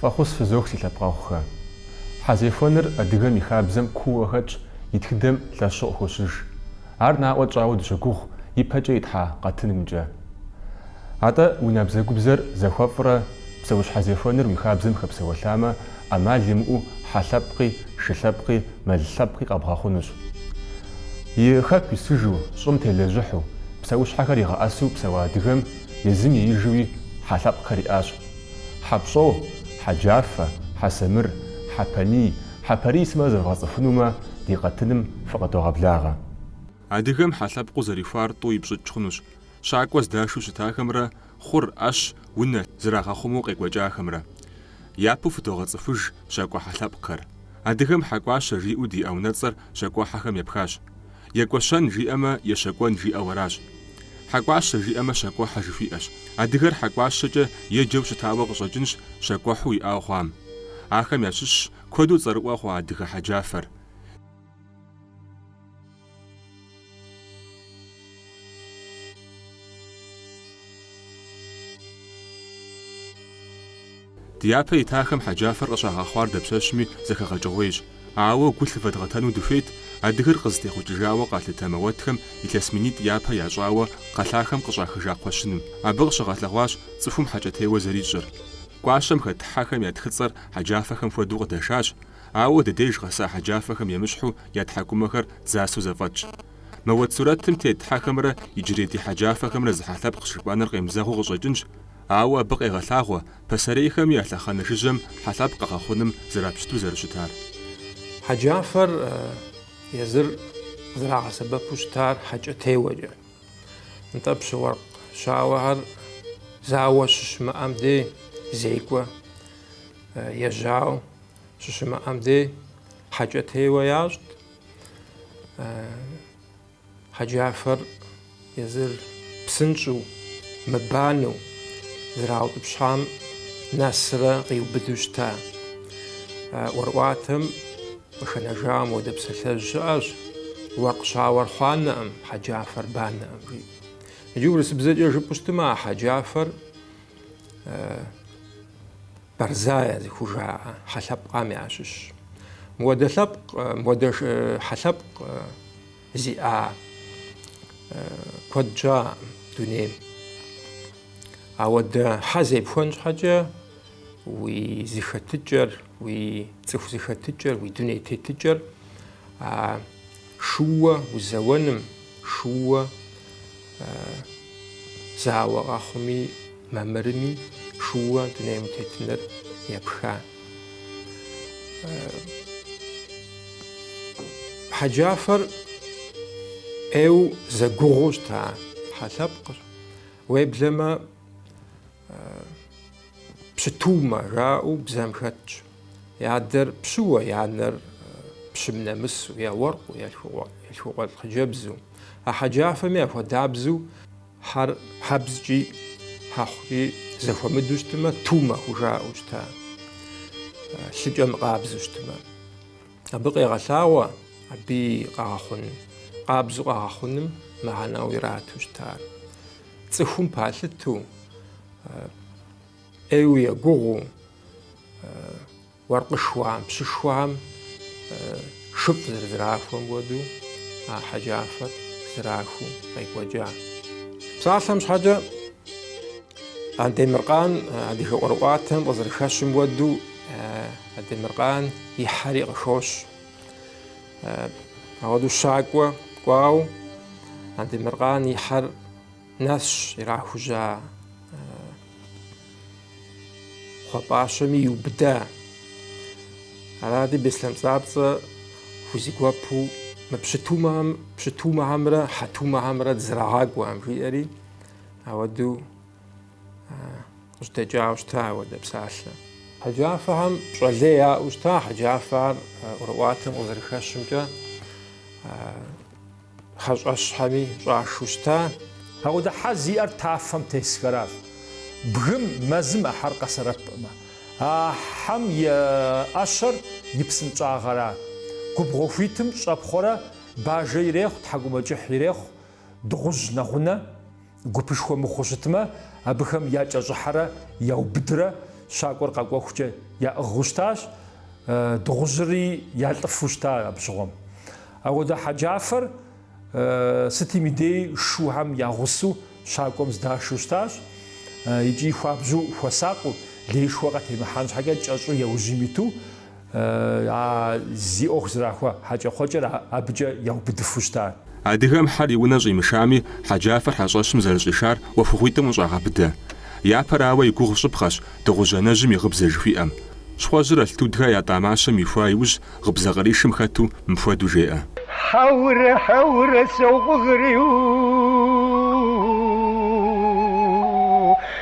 Фӏэхъус фызох си лъэпкъэгъухэ. Хьэзехуэныр адыгэм и хабзэм кууэ хэтщ, и тхыдэм лъэщу хощыж. Ар наӏуэ тщӏауэ дыщогугъ ипэкӏэ итлъхьа къэтынымкӏэ. Атӏэ уи набдзэгубдзэр зэхуэфӏрэ псэущхьэзехуэныр уи хабзэм хэпсэуэлъамэ, ӏэмал имыӏэу хьэ лъэпкъи, шы лъэпкъи, мэл лъэпкъи къэбгъэхъунущ. И хэку исыжу, щӏым телэжьыхьу, псэущхьэхэр игъэӏэсэу псэуа адыгэм, Езым еижуи хьэ лъэпкъхэр иӏащ. Хьэпщӏо, Хьэджафэ, Хьэсэмыр, Хьэпэний, Хьэпэрий сымэ зэвгъэцӏыхунумэ, ди къэтыным фыкъыдогъэблагъэ. Адыгэм хьэ лъэпкъыу зэрихуар тӏу ипщӏыкӏ хъунущ, щакӏуэ здашу щытахэмрэ хъур, ӏэщ, унэ, зэрагъэхъумэу къекӏуэкӏахэмрэ. Япэу фыдогъэцӏыхуж щакӏуэ хьэ лъэпкъхэр. Адыгэм Хьэкӏуащэ жиӏэу диӏэ унэцӏэр щакӏуэхьэхэм епхащ. Екӏуэщэн жиӏэмэ, ещэкӏуэн жиӏэу аращ. Хьэкӏуащэ жиӏэмэ, щакӏуэхьэ жыхуиӏэщ. Адыгэр хьэкӏуащэкӏэ еджэу щытауэ къыщӏэкӏынщ щакӏуэхьэу иӏауэ хъуам. Ахэм ящыщщ куэду цӏэрыӏуэ хъуа адыгэ хьэджафэр. Ди япэ итахэм хьэджафэр къыщагъэхъуар дапщэщми зэхэгъэкӏыгъуейщ, ауэ гу лъыфэдгъэтэну дыхуейт адыгэр къызытехъукӏыжауэ къалъытэ мэуэтхэм илъэс минитӏ япэ ящӏауэ кхъэлъахэм къыщӏахыжа кхъуэщыным. Абы къыщыгъэлъэгъуащ цӏыхум хьэкӏэтеуэ зэрищӏыр. Кӏуащэм хэт хьэхэм я тхыцӏэр хьэджафэхэм хуэдэу къыдэшащ, ауэ ди деж къэса хьэджафэхэм емыщхьу я тхьэкӏумэхэр дзасэу зэфӏэтщ. Мэуэт сурэтым тет хьэхэмрэ иджырей ди хьэджафэхэмрэ зы хьэ лъэпкъщ жыпӏэныр къемызэгъыу къыщӏэкӏынщ, Ауэ абы къегъэлъагъуэ пасэрейхэми я лъэхъэнэ жыжьэм хьэ лъэпкъ къэгъэхъуным зрапщыту зэрыщытар. Хьэджафэр езыр зэрагъэсэбэпу щытар хьэкӏэтеуэкӏэ. Нтӏэ, пщы уэркъ щауэхэр зауэ щыщымыӏэм дей зекӏуэ, ежьауэ щыщымыӏэм дей хьэкӏэтеуэ ящӏт. Хьэджафэр езыр псынщӏэу, мыбанэу зэраутӏыпщам нэсрэ къиубыду щыта. ӏуэрыӏуатэм къыхэнэжа мыуэдэ псалъэжь щыӏэщ, Уэркъ щауэр хъуанэӏым, хьэджафэр банэӏым, жи. Иджы урысыбзэкӏэ жыпӏэу щытмэ, а хьэджафэр Борзая зыхужаӏэ хьэлъэпкъам ящыщщ. Мыуэдэ лъэпкъ, мыуэдэ хьэлъэпкъ зиӏа куэд щыӏэӏым дунейм. Ауэдэ хьэ зепхуэн щхьэкӏэ уи зыхэтыкӏэр, уи цӏыху зэхэтыкӏэр, уи дуней тетыкӏэр Шууэ узэуэным, шууэ зауэ къэхъуми мамырми, шууэ дунейм утетыныр епха. Хьэджафэр ӏейу зэгугъуу щыта хьэ лъэпкъыр. Уеблэмэ, Пщытумэ жаӏэу бзэм хэтщ. Я адэр пщыуэ, я анэр пщым нэмысу, е уэркъу, е лъхукъуэлӏ хъыджэбзу, а хьэджафэми яхуэдабзу хьэр хьэбзкӏи, хьэхъукӏи зэхуэмыду щытымэ, тумэ хужаӏэу щыта, лъыкӏэ мыкъабзу щытымэ. Абы къегъэлъагъуэ абы и къэгъэхъун, къабзу къэгъэхъуным мыхьэнэу ирату щытар. Цӏыхум палъыту, ӏейу егугъуу, уэркъышхуэхэм, пщышхуэхэм шыфӏ зэрызэрахуэм хуэдэу а хьэджафэр зэрахуэу къекӏуэкӏа. Псалъэм щхьэкӏэ Андемыркъан адыгэ ӏуэрыӏуатэм къызэрыхэщым хуэдэу Андемыркъан и хьэри къыхощ. Ауэду щакӏуэ кӏуауэ Андемыркъан и хьэр нэсщ ирахужьа кхъуэпӏащэми иубыда. Аради Беслъэн Пцӏапцӏэ хузэгуэпу мы пщыт, пщытумэхэмрэ хьэтумэхэмрэ дызэрагъакӏуэӏым жиӏэри ауэду къыжьэдэкӏауэ щыта ауэдэ псалъэ. Хьэджафэхэм пщӏэ лей яӏэу щыта хьэджафэхэр ӏуэрыӏуатэм къызэрыхэщымкӏэ хьэщӏэщхьэми щӏашэу щыта. Ауэдэ хьэ зиӏэр тафэм тесхэращ. Бгым, мэзым а хьэр къэсэбэпӏым, а хьэм и ӏэщэр и псынщӏагъэра. Губгъуэ хуитым щӏэпхъуэрэ бажэ ирехъу, тхьэкӏумэкӏыхь ирехъу, дыгъужь нэгъунэ. Гупышхуэ мыхъуу щытмэ, абыхэм якӏэщӏыхьэрэ яубыдрэ щакӏуэр къэкӏуэхукӏэ яӏыгъыу щытащ, дыгъужьыри ялӏыфу щыта абы щыгъуэм. Ауэдэ хьэджафэр сытым и дей шухэм я гъусэу щакӏуэм здашэу щытащ икӏи хуабжьу хуэсакъыу, лейшхуэ къатемыхьэн щхьэкӏэ кӏэщӏу яужьым иту, А зи ӏуэху зэрахуэ хьэкӏэкхъуэкӏэр абыкӏэ яубыдыфу щыта. Адыгэм хьэр и унэ щӏимышами, хьэджафэр хьэщӏэщым зэрыщӏишар ӏуэхугъуитӏым къыщӏагъэбыдэ. Япэрауэ и гугъу щӏыпхъэщ дыгъужь анэжьым и гъыбзэ жыхуиӏэм. Щхъуэжьыр Алтудхэ ятӏа мащэм ихуа иужь гъыбзэ къришым хэту мыпхуэдэу жеӏэ. Хьэурэ, хьэурэ, сокъугъри у.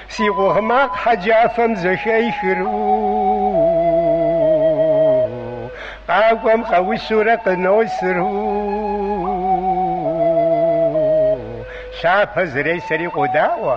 Си къугъ макъ хьэджафэм зэхехыр Къакӏуэм къэусурэ къыносыр Лъапэ зресэри къодаӏуэ.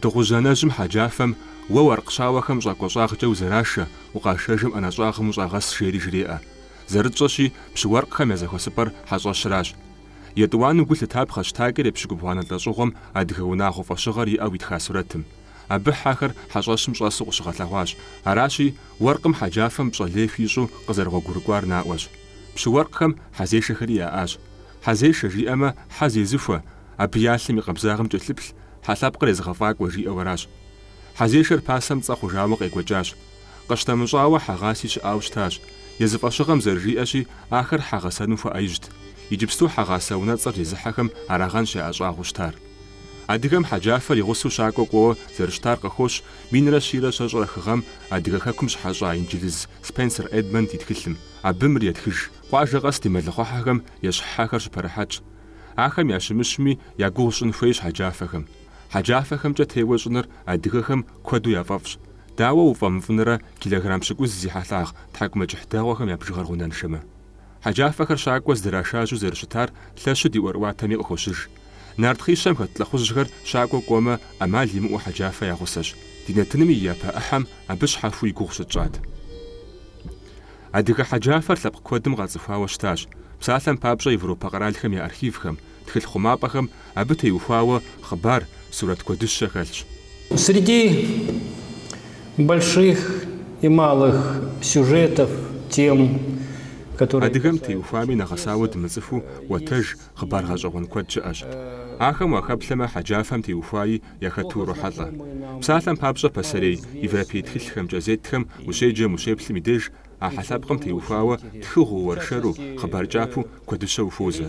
Дыгъужь анэжьым хьэджафэм, Уэ уэркъ щауэхэм щӏакӏуэ щӏагъкӏэ узэрашэ, укъашэжым ӏэнэ щӏагъым ущӏагъэс, жери жреӏэ. Зэрытщӏэщи, пщы уэркъхэм я зэхуэсыпӏэр хьэщӏэщращ. Етӏуанэу гу лъытапхъэщ Такӏэр епщыкӏубгъуанэ лӏэщӏыгъуэм адыгэ унагъуэ фӏэщыгъэр иӏэу итха сурэтым. Абы хьэхэр хьэщӏэщым щӏэсу къыщыгъэлъэгъуащ. Аращи, уэркъым хьэджафэм пщӏэ лей хуищӏу къызэрыгъуэгурыкӏуар наӏуэщ. Пщы уэркъхэм хьэзешэхэри яӏащ. Хьэзешэ жиӏэмэ, хьэ зезыхуэ, Абы я лъым и къабзагъым кӏэлъыплъ хьэ лъэпкъыр езыгъэфӏакӏуэ, жиӏэу аращ. Хьэзешэр пасэм цӏэ хъужауэ къекӏуэкӏащ. Къыщтэмыщӏауэ, хьэгъаси щыӏауэ щытащ. Езы фӏэщыгъэм зэрыжиӏэщи, ахэр хьэ гъэсэну хуэӏэижьт. Иджыпсту хьэгъасэ унэцӏэр зезыхьэхэм арагъэнщ яӏэщӏагъуэу щытар. Адыгэм хьэджафэр и гъусэу щакӏуэ кӏуэуэ зэрыщытар къыхощ минрэ щийрэ щэщӏрэ хы гъэм Адыгэ хэкум щыхьэщӏа инджылыз Спенсер Эдмонд и тхылъым. Абы мыр етхыж. Къуажэ къэс ди мэлыхъуэхьэхэм ещхь хьэхэр щыпэрыхьэтщ. Ахэм ящымыщми, я гугъу щӏын хуейщ хьэджафэхэм. Хьэджафэхэмкӏэ теуэ щӏыныр адыгэхэм куэду яфӏэфӏщ. Дауэ уфӏэмыфӏынрэ килограмм пщыкӏуз зи хьэлъагъ тхьэкӏумэкӏыхь дэгъуэхэм я бжыгъэр гъунэншэмэ? Хьэджафэхэр щакӏуэ здрашажьэу зэрыщытар лъэщу ди ӏуэрыӏуатэми къыхощыж. Нартхъищэм хэт лӏыхъужьхэр щакӏуэ кӏуэмэ, ӏэмал имыӏэу хьэджафэ я гъусэщ. Ди нэтыным и япэ ӏыхьэм абы щхьэхуи и гугъу щытщӏат. Адыгэ хьэджафэр лъэпкъ куэдым къацӏыхуауэ щытащ, псалъэм папщӏэ Европэ къэралхэм я архивхэм, тхылъ хъумапӏэхэм абы теухуауэ хъыбар, сурэт куэдыщэ хэлъщ. Среди больших и малых сюжетов, тем, которые касаются Адыгэм теухуами нэгъэсауэ дымыцӏыхуу ӏуэтэж, хъыбар гъэщӏэгъуэн куэд щыӏэщ. Ахэм уахэплъэмэ, хьэджафэм теухуаи Яхэту урохьэлӏэ. Псалъэм папщӏэ, пасэрей европей тхылъхэм, кӏэзетхэм ущеджэм, ущеплъым и деж, а хьэ лъэпкъым теухуауэ тхыгъэу, уэршэру, хъыбар кӏапэу куэдыщэ ухуозэ.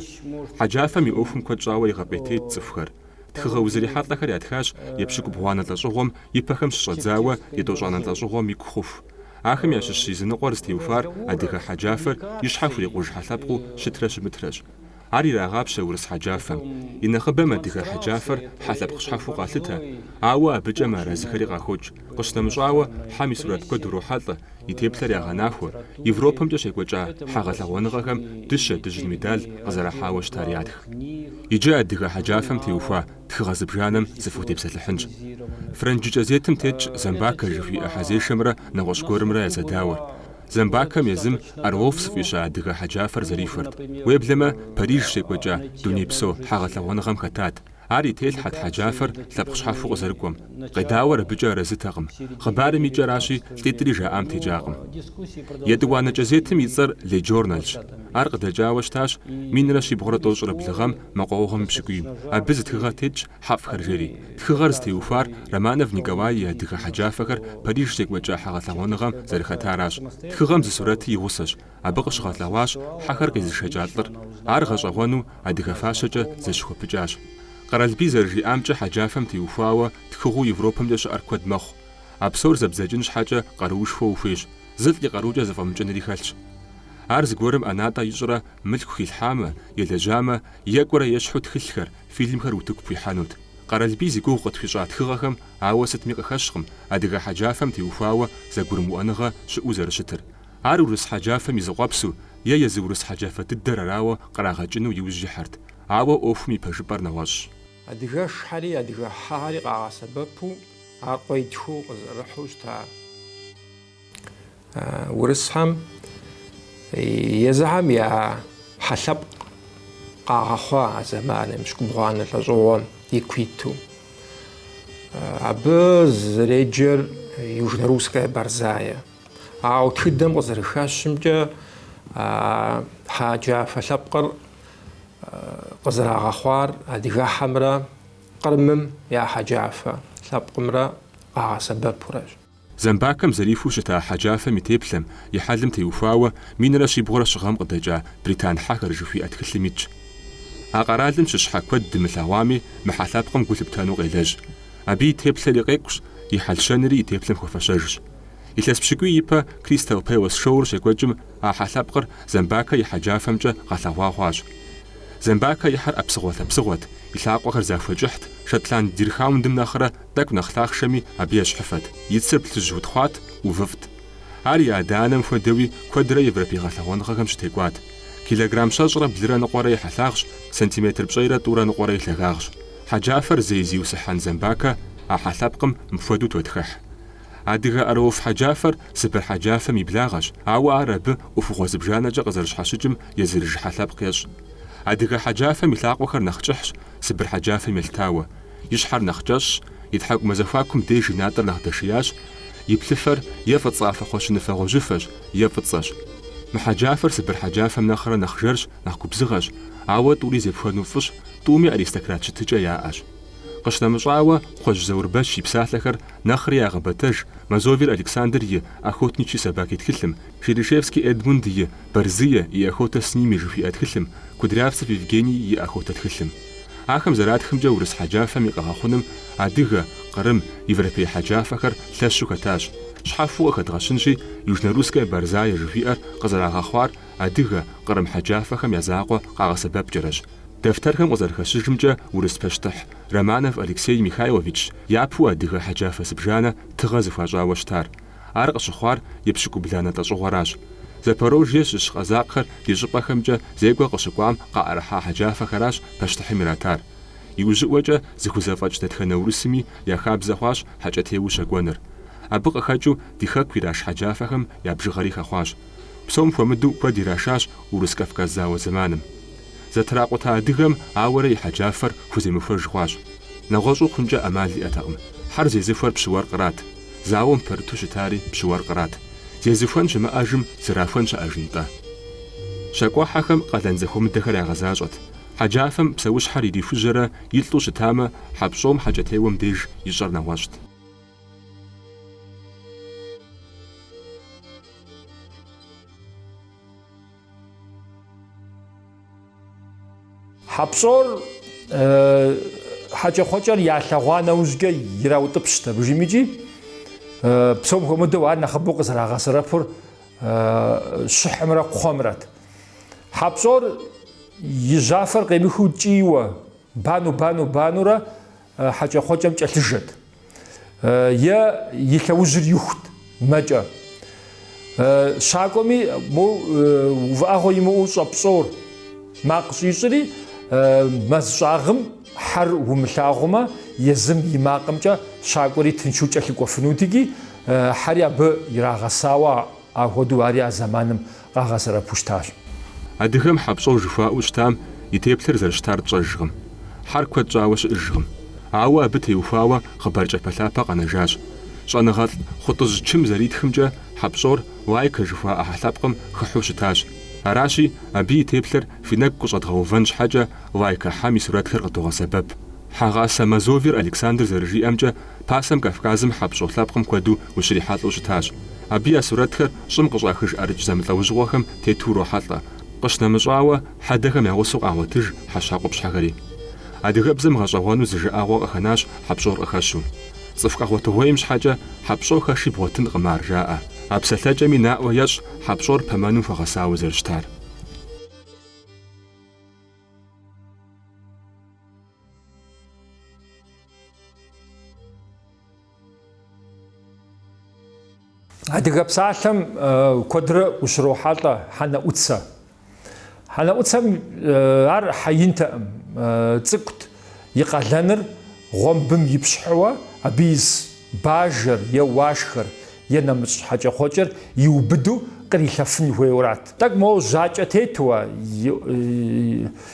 Хьэджафэм и ӏуэхум куэд щӏауэ игъэпӏейтейт цӏыхухэр. Тхыгъэ узэрихьэлӏэхэр ятхащ епщыкӏубгъуанэ лӏэщӏыгъуэм и пэхэм щыщӏэдзауэ етӏощӏанэ лӏэщӏыгъуэм и ку хъуху. Ахэм ящыщ языныкъуэр зытеухуар адыгэ хьэджафэр и щхьэ хурикъуж хьэ лъэпкъыу щытрэ щымытрэщ. Ар ирагъапщэ урыс хьэджафэм. И нэхъыбэм адыгэ хьэджафэр хьэ лъэпкъ щхьэхуэу къалъытэ, ауэ абыкӏэ мыарэзыхэри къахокӏ. Къыщынэмыщӏауэ, хьэм и сурэт куэд урохьэлӏэ, и теплъэр ягъэнахуэ, Европэмкӏэ щекӏуэкӏа хьэ гъэлъэгъуэныгъэхэм дыщэ дыжьын медаль къызэрахьауэ щытар ятх. Иджы адыгэ хьэджафэм теухуа тхыгъэ зыбжанэм сыфхутепсэлъыхьынщ. Фрэнджы кӏэзетым тетщ Зэмбакэ жыхуиӏэ хьэзешэмрэ нэгъуэщӏ гуэрымрэ я зэдауэр. Зэмбакэм езым Орлов зыфӏища адыгэ хьэджафэр зэрихуэрт. Уеблэмэ, Париж щекӏуэкӏа дунейпсо хьэгъэлъэгъуэныгъэм хэтат. Ар и телъхьэт хьэджафэр лъэпкъ щхьэхуэу къызэрыкӏуэм. Къедауэр абыкӏэ арэзытэкъым. Хъыбарым и кӏэращи, лӏитӏри жаӏам текӏакъым. Етӏуанэ кӏэзетым и цӏэр Ле Джорналщ. Ар къыдэкӏауэ щытащ минрэ щибгъурэ тӏощӏрэ блы гъэм мэкъуауэгъуэм и пщыкӏуийм. Абы зы тхыгъэ тетщ Хьэфӏхэр жери, тхыгъэр зытеухуар Романов Николай и адыгэ хьэджафэхэр Париж щекӏуэкӏа хьэгъэлъэгъуэныгъэм зэрыхэтаращ. Тхыгъэм зы сурэти и гъусэщ. Абы къыщыгъэлъэгъуащ хьэхэр къезышэкӏа лӏыр. Ар гъэщӏэгъуэну адыгэ фащэкӏэ зэщыхуэпыкӏащ. Къэралбий зэрыжиӏамкӏэ хьэджафэм теухуауэ тхыгъэу Европэмкӏэ щыӏэр куэд мэхъу. А псор зэбдзэкӏын щхьэкӏэ къаруушхуэ ухуейщ, зылӏ и къарукӏэ зэфӏэмыкӏынри хэлъщ. Ар зыгуэрым ӏэнатӏэ ищӏрэ мылъку хилъхьамэ, елэжьамэ, екӏурэ ещхьу тхылъхэр, Фильмхэр утыку пхуихьэнут. Къэралбий зи гугъу къытхуищӏа тхыгъэхэм ауэ сытми къыхэщкъым адыгэ хьэджафэм теухуауэ зэгурымыӏуэныгъэ щыӏэу зэрыщытыр. Ар урыс хьэджафэм и зы къуэпсу е езы урыс хьэджафэ дыдэр арауэ кърагъэкӏыну иужь ихьэрт, ауэ ӏуэхум и пэжыпӏэр нэгъуэщӏщ. Адыгэшхэри адыгэ хьэхэри къагъэсэбэпу ар къуентхъыу къызэрыхьу щыта. Урысхэм езыхэм я хьэлъэпкъ къагъэхъуа а зэманым епщыкӏубгъуанэ лӏэщӏыгъуэм ику иту. Абы зэреджэр Южно-Русская Борзая. Ауэ тхыдэм къызэрыхэщымкӏэ хьэджафэ лъэпкъыр къызэрагъэхъуар адыгэхьэмрэ Кърымым я хьэджафэ лъэпкъымрэ къагъэсэбэпурэщ. Зэмбакэм зэрихуэу щыта хьэджафэм и теплъэм, и хьэлым теухуауэ минрэ щибгъурэ щы гъэм къыдэкӏа британ хьэхэр жыхуиӏэ тхылъым итщ. А къэралым щыщ хьэ куэд дымылъэгъуами, мы хьэлъэпкъым гу лъыптэну къелэжь. Абы и теплъэри къекӏущ, и хьэл-щэнри и теплъэм хуэфэщэжщ. Илъэс пщыкӏуий ипэ Кристал Пэлэс шоур щекӏуэкӏым а хьэлъэпкъыр Зэмбакэ и хьэджафэмкӏэ гъэлъэгъуа хъуащ. Зэмбакэ и хьэр ӏэпсыгъуэ-лъэпсыгъуэт, и лъакъуэхэр захуэ кӏыхьт, шотланд дирхаундым нэхърэ Тӏэкӏу нэхъ лъахъшэми абы ещхьыфэт, и цыр плъыжь утхъуат, ӏувыфӏт. Ар и адэ-анэм хуэдэуи куэдрэ европей гъэлъэгъуэныгъэхэм щытекӏуат. Килограмм щэщӏрэ блырэ ныкъуэрэ и хьэлъагъщ, сантиметр пщӏейрэ тӏурэ ныкъуэрэ и лъагагъщ. Хьэджафэр зей зиусхьэн Зэмбакэ а хьэлъэпкъым мыпхуэдэу тотхыхь. Адыгэ Орлов хьэджафэр Сыбыр хьэджафэм и благъэщ, ауэ ар абы ӏуэхугъуэ зыбжанэкӏэ къызэрыщхьэщыкӏым езырыж хьэлъэпкъ ещӏ. Адыгэ хьэджафэм и лъакъуэхэр нэхъ кӏыхьщ Сыбыр хьэджафэм елъытауэ. и щхьэр нэхъ кӏэщӏщ, и тхьэкӏумэ зэхуакум деж и натӏэр нэхъ дэшиящ, и плъыфэр е фӏыцӏафэ кхъуэщыныфэ гъуэжьыфэщ, е фӏыцӏэщ. Мы хьэджафэр сыбыр хьэджафэм нэхърэ нэхъ жэрщ, нэхъ губзыгъэщ, ауэ тӏури зепхуэну фӏыщ, тӏуми аристократ щытыкӏэ яӏэщ. Къыщынэмыщӏауэ, Кхъуэжь Заурбэч и псалъэхэр нэхъри ягъэбэтэж Мазовер Александр и Охотничьи собаки тхылъым, Шерешевский Эдмунд и Борзые и охота с ними жыхуиӏэ тхылъым, Кудрявцев Евгений и Охота тхылъым. Ахэм зэратхымкӏэ урыс хьэджафэм и къэгъэхъуным адыгэ, кърым, европей хьэджафэхэр лъэщу хэтащ. Щхьэфу къыхэдгъэщынщи, Южнорусская борзая жыхуиӏэр къызэрагъэхъуар адыгэ, кърым хьэджафэхэм я закъуэ къагъэсэбэпкӏэрэщ. Дэфтэрхэм къызэрыхэщыжымкӏэ урыс пащтыхь Романов Алексей Михайловичщ япэу адыгэ хьэджафэ зыбжанэ тыгъэ зыхуащӏауэ щытар. Ар къыщыхъуар епщыкӏубланэ лӏэщӏыгъуэращ. Запорожье щыщ къэзакъхэр ди щӏыпӏэхэмкӏэ зекӏуэ къыщыкӏуам къаӏэрыхьа хьэджафэхэращ пащтыхьым иратар. Иужьыӏуэкӏэ зыхузэфӏэкӏ дэтхэнэ урысми я хабзэ хъуащ хьэкӏэтеуэу щэкӏуэныр. Абы къыхэкӏыу ди хэку ираш хьэджафэхэм я бжыгъэри хэхъуащ. Псом хуэмыдэу куэд ирашащ Урыс-Кавказ зауэ зэманым. Зэтракъута адыгэм ауэрэ и хьэджафэр хуземыхуэж хъуащ. Нэгъуэщӏу хъункӏэ ӏэмал иӏэтэкъым. Хьэр зезыхуэр пщы уэркърат. Зауэм пэрыту щытари пщыуэркърат. Зезыхуэн щымыӏэжым зэрахуэн щыӏэжынтӏэ? Щакӏуэхьэхэм къалэн зэхуэмыдэхэр ягъэзащӏэт. Хьэджафэм псэущхьэр ирихужьэрэ илӏу щытамэ, хьэпщӏом хьэкӏэтеуэм деж ищӏэр нэгъуэщӏт. Хьэпщӏор хьэкӏэкхъуэкӏэр ялъэгъуа нэужькӏэ ираутӏыпщт абыжым икӏи, псом хуэмыдэу ар нэхъыбэу къызэрагъэсэрэпыр щыхьымрэ кхъуэмрэт. Хьэпщӏор и жьафэр къемыхыу кӏийуэ, бану-бану-банурэ хьэкӏэкхъуэкӏэм кӏэлъыжэт, е и лъэужьыр ихут мэкӏэ. Щакӏуэми, моу увыӏэгъуэ имыӏэу хьэпщӏор макъ щӏищӏри, мэз щӏагъым хьэр умылъагъумэ, езым и макъымкӏэ щакӏуэри тыншу кӏэлъыкӏуэфынут икӏи, хьэри абы ирагъэсауэ Апхуэдэу ари а зэманым къагъэсэрэпу щытащ. Адыгэм хьэпщӏэу жыхуаӏэу щытам и теплъэр зэрыщытар тщӏэжкъым. Хьэр куэд щӏауэ щыӏыжкъым. Ауэ абы теухуауэ хъыбар кӏэпэлъапэ къэнэжащ. Щӏэныгъэлӏ Хъутӏыжь Чым зэритхымкӏэ, хьэпщӏор Лайкэ жыхуаӏэ хьэлъэпкъым хыхьу щытащ. Аращи, абы и теплъэр фи нэгу къыщӏэдгъэувэн щхьэкӏэ, Лайкэ хьэм и сурэтхэр къыдогъэсэбэп. Хьэгъасэ Мазовер Александр зэрыжиӏэмкӏэ, Пасэм Кавказым хьэпщӏо лъэпкъым куэду ущрихьэлӏэу щытащ. Абы я сурэтхэр щӏым къыщӏахыж ӏэрыкӏ зэмылӏэужьыгъуэхэм тету урохьэлӏэ, къыщынэмыщӏауэ, хьэдэхэм я гъусэу къагъуэтыж хьэщхьэ къупщхьэхэри. Адыгэбзэм гъэщӏэгъуэну зы жыӏэгъуэ къыхэнащ хьэпщӏор къыхэщу. Цӏыху къэгъуэтыгъуейм щхьэкӏэ хьэпщӏо хэши бгъуэтынкъым ар, жаӏэ. А псэлъэкӏэми наӏуэ ещӏ хьэпщӏор пэмэным хуэгъэсауэ зэрыщытар. Адыгэ псалъэм куэдрэ ущрохьэлӏэ хьэнэӏуцэ. Хьэнэӏуцэм ар хьэ интэӏым, цӏыкӏут, и къалэныр гъуэмбым ипщхьэуэ абы ис бажэр е уашхэр е нэмыщӏ хьэкӏэкхъуэкӏэр иубыду кърилъэфын хуейуэрат. Тӏэкӏу моуэ жьакӏэ тетуэ,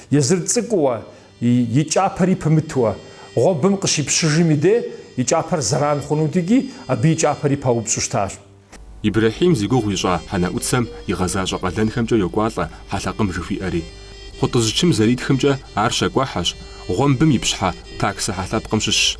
езыр цӏыкӏууэ, И кӏапэри пымытуэ, гъуэбым къыщипщыжым и дей, и кӏапэр зэран хъунут икӏи, абы и кӏапэри паупщӏу щытащ. Ибрэхьим зи гугъу ищӏа хьэнэӏуцэм игъэзащӏэ къалэнхэмкӏэ йокӏуалӏэ хьэлъэкъым жыхуиӏэри. Хъутӏыжь Чым зэритхымкӏэ ар щакӏуэхьэщ, гъуэмбым ипщхьэ таксэ хьэлъэпкъым щыщщ.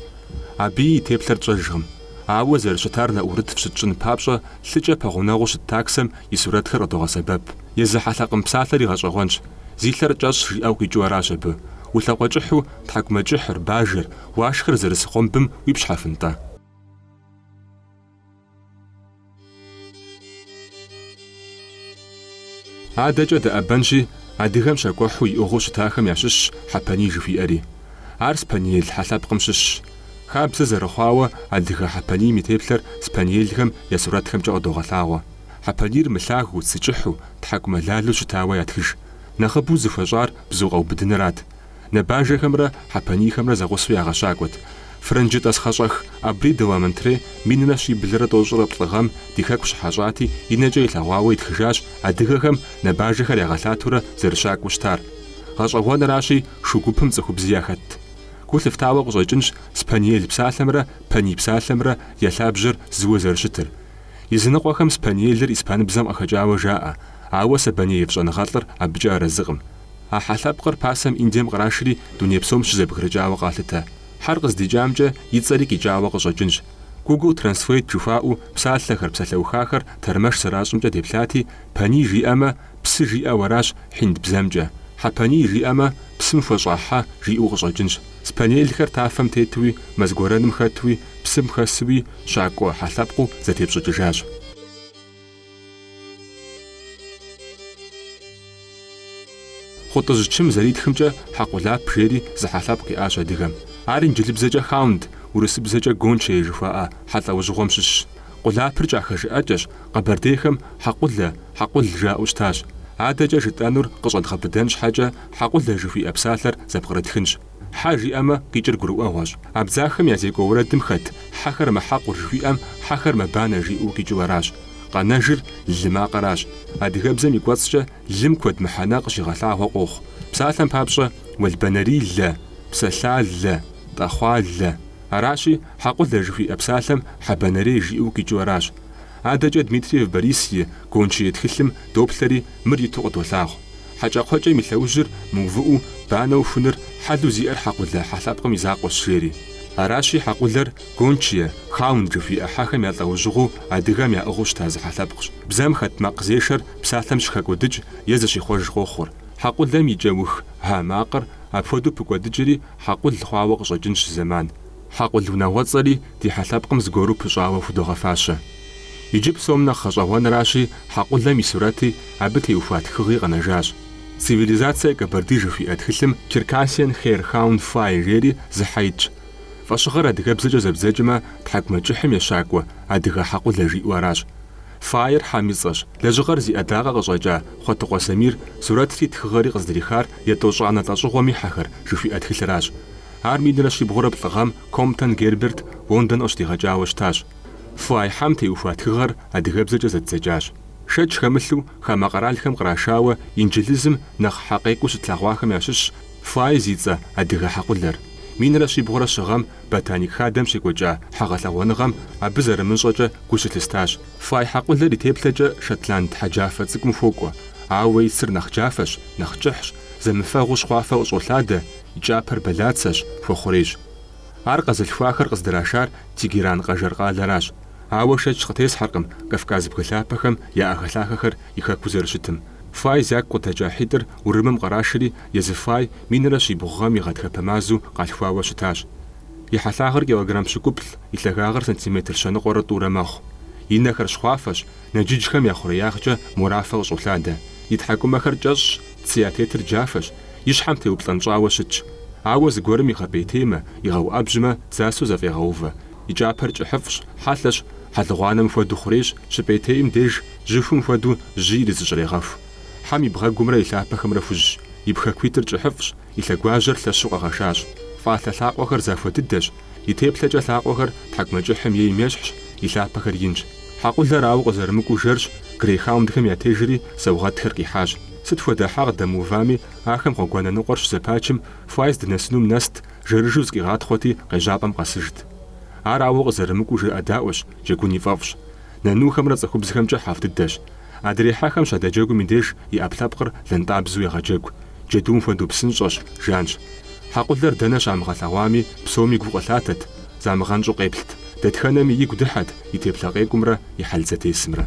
Абыи и теплъэр тщӏэжкъым. Ауэ зэрыщытар нэӏурыт фщытщӏын папщӏэ, лъыкӏэ пэгъунэгъуу щыт таксэм и сурэтхэр къыдогъэсэбэп. Езы хьэлъэкъым псалъэри гъэщӏэгъуэнщ, зи лъэр кӏэщӏ жиӏэу къикӏыу аращ абы. Улъэкъуэкӏыхьу, тхьэкӏумэкӏыхьыр, бажэр, уашхэр зэрыс гъуэмбым уипщхьэфынтӏэ? Адэкӏэ дыӏэбэнщи, адыгэм щакӏуэхьу иӏыгъыу щытахэм ящыщщ хьэпэний жыхуиӏэри. Ар спаниель хьэлъэпкъым щыщщ. Хабзэ зэрыхъуауэ, адыгэ хьэпэнийм и теплъэр спаниельхэм я сурэтхэмкӏэ къыдогъэлъагъуэ. Хьэпанийр мылъагэу, цы кӏыхьу, тхьэкӏумэлалу щытауэ ятхыж. Нэхъыбэу зыхуэщӏар бзу къэубыдынырат. Нэбажэхэмрэ Хьэпанийхэмрэ зэгъусэу ягъэщакӏуэт. Фрэнджы тӏасхъэщӏэх Абри де ла Мотре минрэ щиблрэ тӏощӏрэ плӏы гъэм ди хэку щыхьэщӏати, и нэкӏэ илъэгъуауэ итхыжащ адыгэхэм набажэхэр ягъэлъатурэ зэрыщакӏуэу щытар. Гъэщӏэгъуэнращи, шу гупым цӏыхубзи яхэтт. Гу лъыфтауэ къыщӏэкӏынщ Спаниель псалъэмрэ Паний псалъэмрэ я лъабжьэр зыуэ зэрыщытыр. Языныкъуэхэм спаниелыр испаныбзэм къыхэкӏауэ жаӏэ, ауэ Сабанеев щӏэныгъэлӏыр абыкӏэ арэзыкъым. А хьэ лъэпкъыр пасэм Индием кърашри дуней псом щызэбгрыкӏауэ къалъытэ. Хьэр къыздикӏамкӏэ и цӏэри къикӏауэ къыщӏэкӏынщ. Гугл Трэнслэйт жыхуаӏэу псалъэхэр, псалъэухахэр тэрмэш зэращӏымкӏэ деплъати, паний жиӏэмэ, псы жиӏэу аращ хьинд бзэмкӏэ. Хьэпаний жиӏэмэ, псым хуэщӏа хьэ жиӏэу къыщӏэкӏынщ. Спаниелхэр тафэм тетуи, мэз гуэрэным хэтуи, псым хэсуи, щакӏуэ хьэ лъэпкъыу зэтепщӏыкӏыжащ. Хъутӏыжь Чым зэритхымкӏэ Хьэкъулап жери зы хьэ лъэпкъ иӏащ адыгэм. Ар инджылыбзэкӏэ хаунд, урысыбзэкӏэ гончей жыхуаӏэ хьэ лӏэужьыгъуэм щыщщ. Къулапыр кӏахэжыӏэкӏэщ, къэбэрдейхэм Хьэкъулэ, Хьэкъул жаӏэу щытащ. Адэкӏэ жытӏэнур къыщӏэдгъэбыдэн щхьэкӏэ Хьэкъулэ жыхуиӏэ псалъэр зэпкърытхынщ. Хьэ жиӏэмэ, къикӏыр гурыӏуэгъуэщ. Абдзахэм я зекӏуэ уэрэдым хэт Хьэхэр мэхьэкъур жыхуиӏэм Хьэхэр мэбанэ жиӏэу къикӏыу аращ. Къэнэжыр лы макъыращ. Адыгэбзэм и кӏуэцӏкӏэ лым куэд мыхьэнэ къыщигъэлъагъуэ къохъу. Псалъэм папщӏэ, уэлбанэрилэ, псэлъалэ, тӏэхъуалэ. Аращи, Хьэкъулэ жыхуиӏэ псалъэм Хьэбэнэрей жиӏэу къикӏыу аращ. Адэкӏэ Дмитриев Борис и Гончие тхылъым доплъэри мыр иту къыдолъагъу. Хьэкӏэкхъуэкӏэм и лъэужьыр мыувыӏэу банэу хуныр хьэлу зиӏэр хьэкъулэ хьэ лъэпкъым и закъуэщ, жери. Аращи, хьэкъулэр гончие, хаунд жыхуиӏэ хьэхэм я лӏэужьыгъуэу адыгэм яӏыгъыу щыта зы хьэлъэпкъщ. Бзэм хэт макъзешэр псалъэм щыхэкӏуэдыкӏ е зыщихъуэж къохъур. Хьэкъулэм и кӏэух э макъыр апхуэдэу пыкӏуэдыкӏри хьэкъул хъуауэ къыщӏэкӏынщ зэман. Хьэкъул унагъуэцӏэри ди хьэлъэпкъым зыгуэру пыщӏауэ худогъэфащэ. Иджы псом нэхъ гъэщӏэгъуэнращи, хьэкъулэм и сурэти, абы теухуа тхыгъи къэнэжащ. Цивилизация Кабарды жыхуиӏэ тхылъым Черкассиан Хейр Хаунд Фай жери зы хьэ итщ. Фӏэщыгъэр адыгэбзэкӏэ зэбдзэкӏмэ, тхьэкӏумэкӏыхьым ещакӏуэ, адыгэ хьэкъулэ жиӏэу аращ. Файр хьэм и цӏэщ. Лэжьыгъэр зи ӏэдакъэ къыщӏэкӏа Хъуэтыкъуэ Самир сурэтри тхыгъэри къыздрихар Етӏощӏанэ лӏэщӏыгъуэм и хьэхэр жыхуиӏэ тхылъыращ. Ар минрэ щибгъурэ плӏы гъэм Комптон Герберт Лондон къыщыдигъэкӏауэ щытащ. Фай хьэм теухуа тхыгъэр адыгэбзэкӏэ зэддзэкӏащ. Шэч хэмылъу хамэ къэралхэм кърашауэ инджылызым нэхъ хьэкъекӏуу щытлъэгъуахэм ящыщщ Фай зи цӏэ адыгэ хьэкъулэр. Минрэ щибгъурэ щы гъэм Ботаник хадэм щекӏуэкӏа хьэгъэлъэгъуэныгъэм абы зэрымыщӏэкӏэ гу щылъыстащ. Фай хьэкъулэр и теплъэкӏэ шотланд хьэджафэ цӏыкӏум хуокӏуэ, ауэ и цыр нэхъ джафэщ, нэхъ кӏыхьщ, зэмыфэгъуу щхъуафэ къыщӏолъадэ, и кӏапэр бэлацэщ, хуэхъурейщ. Ар къэзылъхуахэр къыздрашар Тегеран къэжэр къалэращ, ауэ шэч къытесхьэркъым Кавказ бгы лъапэхэм я ӏэхэлъахэхэр и хэкуу зэрыщытым. Фай зяку къыдэкӏа хьитӏыр Урымым кърашри, езы Фай минрэ щибгъу гъэм и гъатхэпэ мазэу къалъхуауэ щытащ. И хьэлъагъыр килограмм щыкӏуплӏ, и лъагагъыр сантиметр щэныкъуэрэ тӏурэ мэхъу. И нэхэр щхъуафэщ, нэджыджхэм я хъуреягъкӏэ морафэ къыщӏолъадэ. И тхьэкӏумэхэр кӏэщӏщ, цы ятетыр джафэщ, и щхьэм теуплӏэнщӏауэ щытщ. Ауэ зыгуэрым игъэпӏейтеймэ, игъэуӏэбжьмэ, дзасэу зэфӏегъэувэ, и кӏапэр кӏыхьыфӏщ, хьэлъэщ, хьэлыгъуанэм хуэдэу хъурейщ, щыпӏейтейм деж, жьыхум хуэдэу жьы иризыщӏрегъэху. Хьэм и бгъэгумрэ и лъапэхэмрэ хужьщ, и пхэкуитӏыр кӏыхьыфӏщ, и лъэгуажьэр лъэщу къэгъэшащ. Фӏалъэ лъакъуэхэр захуэ дыдэщ, и теплъэкӏэ лъакъуэхэр тхьэкӏумэкӏыхьым ейм ещхьщ, и лъапэхэр инщ. Хьэкъулэр ауэ къызэрымыкӏуу жэрщ, грейхаундхэм ятежри, саугъэтхэр къихьащ. Сыт хуэдэ хьэ къыдэмыувами, ахэм гъуэгуанэ ныкъуэр щызэпачым, Хуай здынэсынум нэст, жэрыжэу зыкъигъатхъуэти, къежьапӏэм къэсыжт. Ар ауэ къызэрымыкӏуу жыӏэдаӏуэщ, джэгун и фӏэфӏщ. Нанухэмрэ цӏыхубзхэмкӏэ хьэфӏ дыдэщ. Адрей хьэхэм щадэджэгум и деж и ӏэпкълъэпкъыр лэнтӏабзэу егъэджэгу, джэдум хуэдэу псынщӏэщ, жанщ. Хьэкъулэр дэнэ щамыгъэлъэгъуами, псоми гу къылъатэт, замыгъэнщӏу къеплът, дэтхэнэми игу дыхьэт и теплъэ къекӏумрэ и хьэл зэтесымрэ.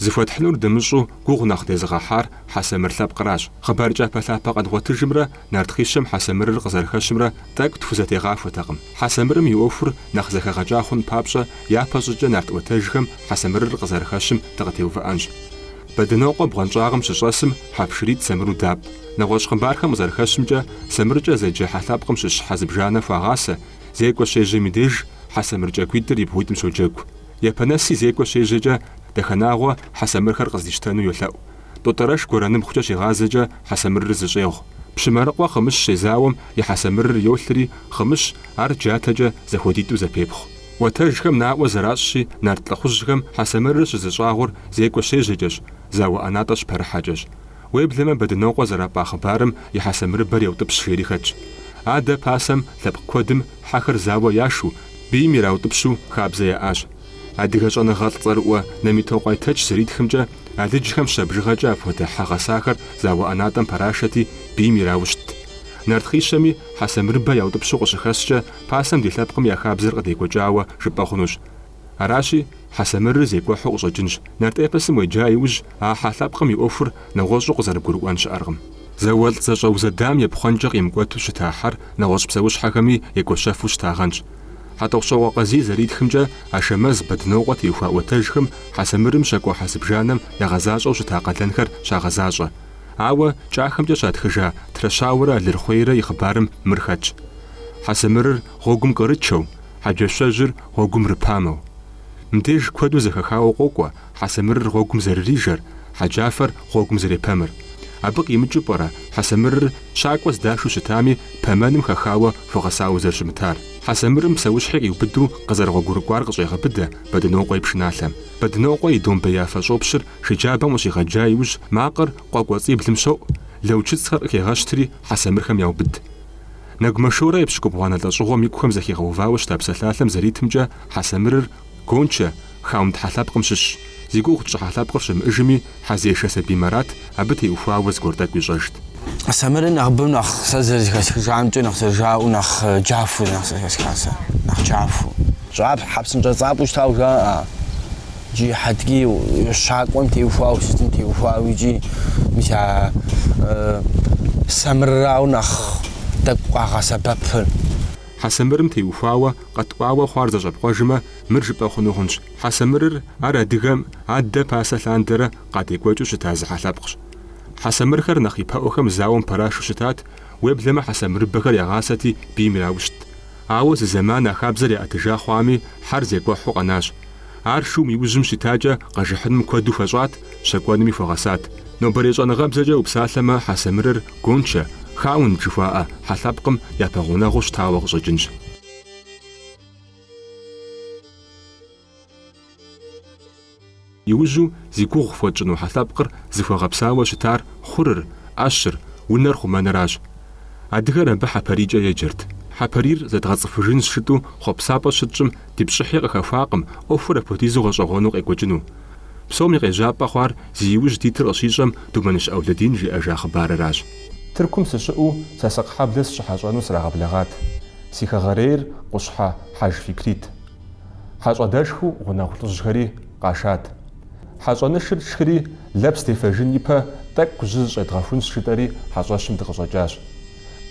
Зыхуэтхьынур дымыщӏу гугъу нэхъ дезыгъэхьар Хьэсэмыр лъэпкъращ. Хъыбар кӏапэлъапэ къэдгъуэтыжымрэ нарт хъищэм Хьэсэмырыр къызэрыхэщымрэ тӏэкӏу тхузэтегъахуэтэкъым. Хьэсэмырым и ӏуэхур нэхъ зэхэгъэкӏа хъун папщӏэ, япэщӏыкӏэ нарт ӏуэтэжхэм Хьэсэмырыр къызэрыхэщым дыкъытеувыӏэнщ. Бэдынокъуэ бгъуэнщӏагъым щыщӏэсым хьэпшыритӏ Сэмыру дапӏ. Нэгъуэщӏ хъыбархэм къызэрыхэщымкӏэ, Сэмыркӏэ зэджэ хьэ лъэпкъым щыщ хьэ зыбжанэ хуагъасэ, зекӏуэ щежьэм и деж хьэ сэмыр кӏагуитӏыр и бгъуитӏым щоджэгу. Япэнэси зекӏуэ щежьэкӏэ, Дахэнагъуэ хьэ сэмырхэр къыздищтэну йолъэӏу. Тотӏэрэш гуэрэныпхъукӏэ щигъазэкӏэ хьэ сэмырыр зыщӏегъу. Пщымарыкъуэ Хъымыщ щезауэм и хьэ сэмырыр йолъри, Хъымыщ ар джатэкӏэ, зэхуэдитӏу зэпепхъу. Ӏуэтэжхэм наӏуэ зэращӏщи, нарт лӏыхъужьхэм хьэсэмырыр щызыщӏагъур зекӏуэ щежьэкӏэщ, зауэ ӏэнатӏэ щыпэрыхьэкӏэщ. Уеблэмэ Бэдынокъуэ зэрапӏа хъыбарым и хьэсэмырыбэр еутӏыпщ жери хэтщ. Адэ пасэм лъэпкъ куэдым хьэхэр зауэ яшу, бийм ираутӏыпщу хабзэ яӏащ. Адыгэ щӏэныгъэлӏ цӏэрыӏуэ Намитокъуэ Айтэч зэритхымкӏэ, алыджхэм щэ бжыгъэкӏэ апхуэдэ хьэ гъэсахэр зауэ ӏэнатӏэм пэрашэти, бийм ираущтт. Нарт хъищэми хьэсэмырыбэ яутӏыпщу къыщыхэщкӏэ, пасэм ди лъэпкъыми а хабзэр къыдекӏуэкӏауэ жыпӏэ хъунущ. Аращи, Хьэсэмырыр зекӏуэхьэу къыщӏэкӏынщ, нарт эпосым уеджа иужь а хьэ лъэпкъым и ӏуэхур нэгъуэщӏу къызэрыбгурыӏуэн щыӏэркъым. Зауэлӏ зэщӏэузэдам епхъуэнкӏэ къимыкӏуэту щыта хьэр нэгъуэщӏ псэущхьэхэми екӏуэщэфу щытагъэнщ. Хьэтӏохъущокъуэ Къазий зэритхымкӏэ, Ашэмэз, Бэдынокъуэ теухуа ӏуэтэжхэм Хьэсэмырым щакӏуэхьэ зыбжанэм ягъэзащӏэу щыта къалэнхэр щагъэзащӏэ. Ауэ кӏахэмкӏэ щатхыжа Трэщауэрэ Алырхъуейрэ и хъыбарым мыр хэтщ, Хьэсэмырыр гъуэгум кърычэу, Хьэджэщэжьыр гъуэгум рыпамэу. Мыбдеж куэду зэхэхауэ къокӏуэ Хьэсэмырыр гъуэгум зэрырижэр, Хьэджафэр гъуэгум зэрепэмыр. Абы къимыкӏыу пӏэрэ Хьэсэмырыр щакӏуэ здашу щытами, пэмэным хэхауэ хуэгъэсауэ зэрыщымытар? Хьэсэмырым псэущхьи къиубыду къызэрыгъуэгурыкӏуар къыщӏегъэбыдэ Бэдынокъуэ и пшыналъэм. Бэдынокъуэ и домбеяфэ щӏопщыр Шы джабэм къыщигъэджа иужь макъыр къуэ кӏуэцӏиблым щоӏу, лэучыцӏхэр къыхегъэщтри хьэсэмырхэм яубыд. Нэгумэ Шорэ епщыкӏубгъуанэ лӏэщӏыгъуэм икухэм зэхигъэувауэ щыта псалъалъэм зэритымкӏэ хьэсэмырыр Гончэ, хаунд хьэ лъэпкъым щыщщ, зи гугъу тщӏы хьэ лъэпкъыр щымыӏыжми, хьэзешэ Сабий Марат абы теухуауэ зыгуэр тӏэкӏу ищӏэжт. Хьэсэмырыр нэхъыбэм нэхъ сэ зэрызэхэсхыжамкӏэ нэхъ зэрыжаӏэу нэхъ джафэу нэхъ зэрыхэсхар сэ, нэхъ джафэу. Щӏапхьэ, псынщӏэцӏапӏэу щытауэ жаӏэ. Джи хьэтги щакӏуэм теухуауэ сытым теухуауэ икӏи мис а сэмырырауэ нэхъ тӏэкӏу къагъэсэбэпыр. Хьэсэмырым теухуауэ къэткӏуауэ хъуар зэщӏэпкъуэжмэ, мыр жыпӏэ хъуну хъунщ. Хьэсэмырыр ар адыгэм адэ пасэ лъандэрэ къадекӏуэкӏыу щыта зы хьэ лъэпкъщ. Хьэсэмырхэр нэхъ ипэӏухэм зауэм пэрашу щытат, уеблэмэ хьэсэмырыбэхэр ягъасэти бийм ираушт. Ауэ зы зэман а хабзэр яӏэтыжа хъуами, хьэр зекӏуэхьу къэнащ. Ар шум и ужьым щытакӏэ, къэжыхьыным куэду хуэщӏат, щэкӏуэными хуэгъэсат. Нобэрей щӏэныгъэбзэкӏэ упсалъэмэ, Хьэсэмырыр Гончэ, Хаунд жыхуаӏэ, хьэ лъэпкъым япэгъунэгъуу щытауэ къыщӏэкӏынщ. Иужьу зи гугъу фхуэтщӏыну хьэ лъэпкъыр зыхуэгъэпсауэ щытар хъурыр, ӏэщыр, унэр хъумэныращ. Адыгэр абы хьэпарийкӏэ еджэрт. Хьэпарийр зэдгъэцӏыхужынщ жытӏэу хъуэпсапӏэ щытщӏым, Ди пщӏыхьи къыхэхуакъым ӏуэхур апхуэдизу гъэщӏэгъуэну къекӏуэкӏыну. Псоми къежьапӏэ хъуар зи иужь дитыр къыщищӏэм Думэныщ Ӏэулэдин жиӏэжа хъыбарыращ. Тыркум сыщыӏэу Сасыкъ хьэблэ сыщыхьэщӏэну срагъэблэгъат. Си хэгъэрейр Къущхьэ Хьэж Фикрит. Хьэщӏэдэшхыу гъунэгъу лӏыжьхэри къашат. Хьэщӏэнышыр тшхыри, лэпс дефэжын ипэ тӏэкӏу жьы зыщӏедгъэхунщ жытӏэри хьэщӏэщым дыкъыщӏэкӏащ.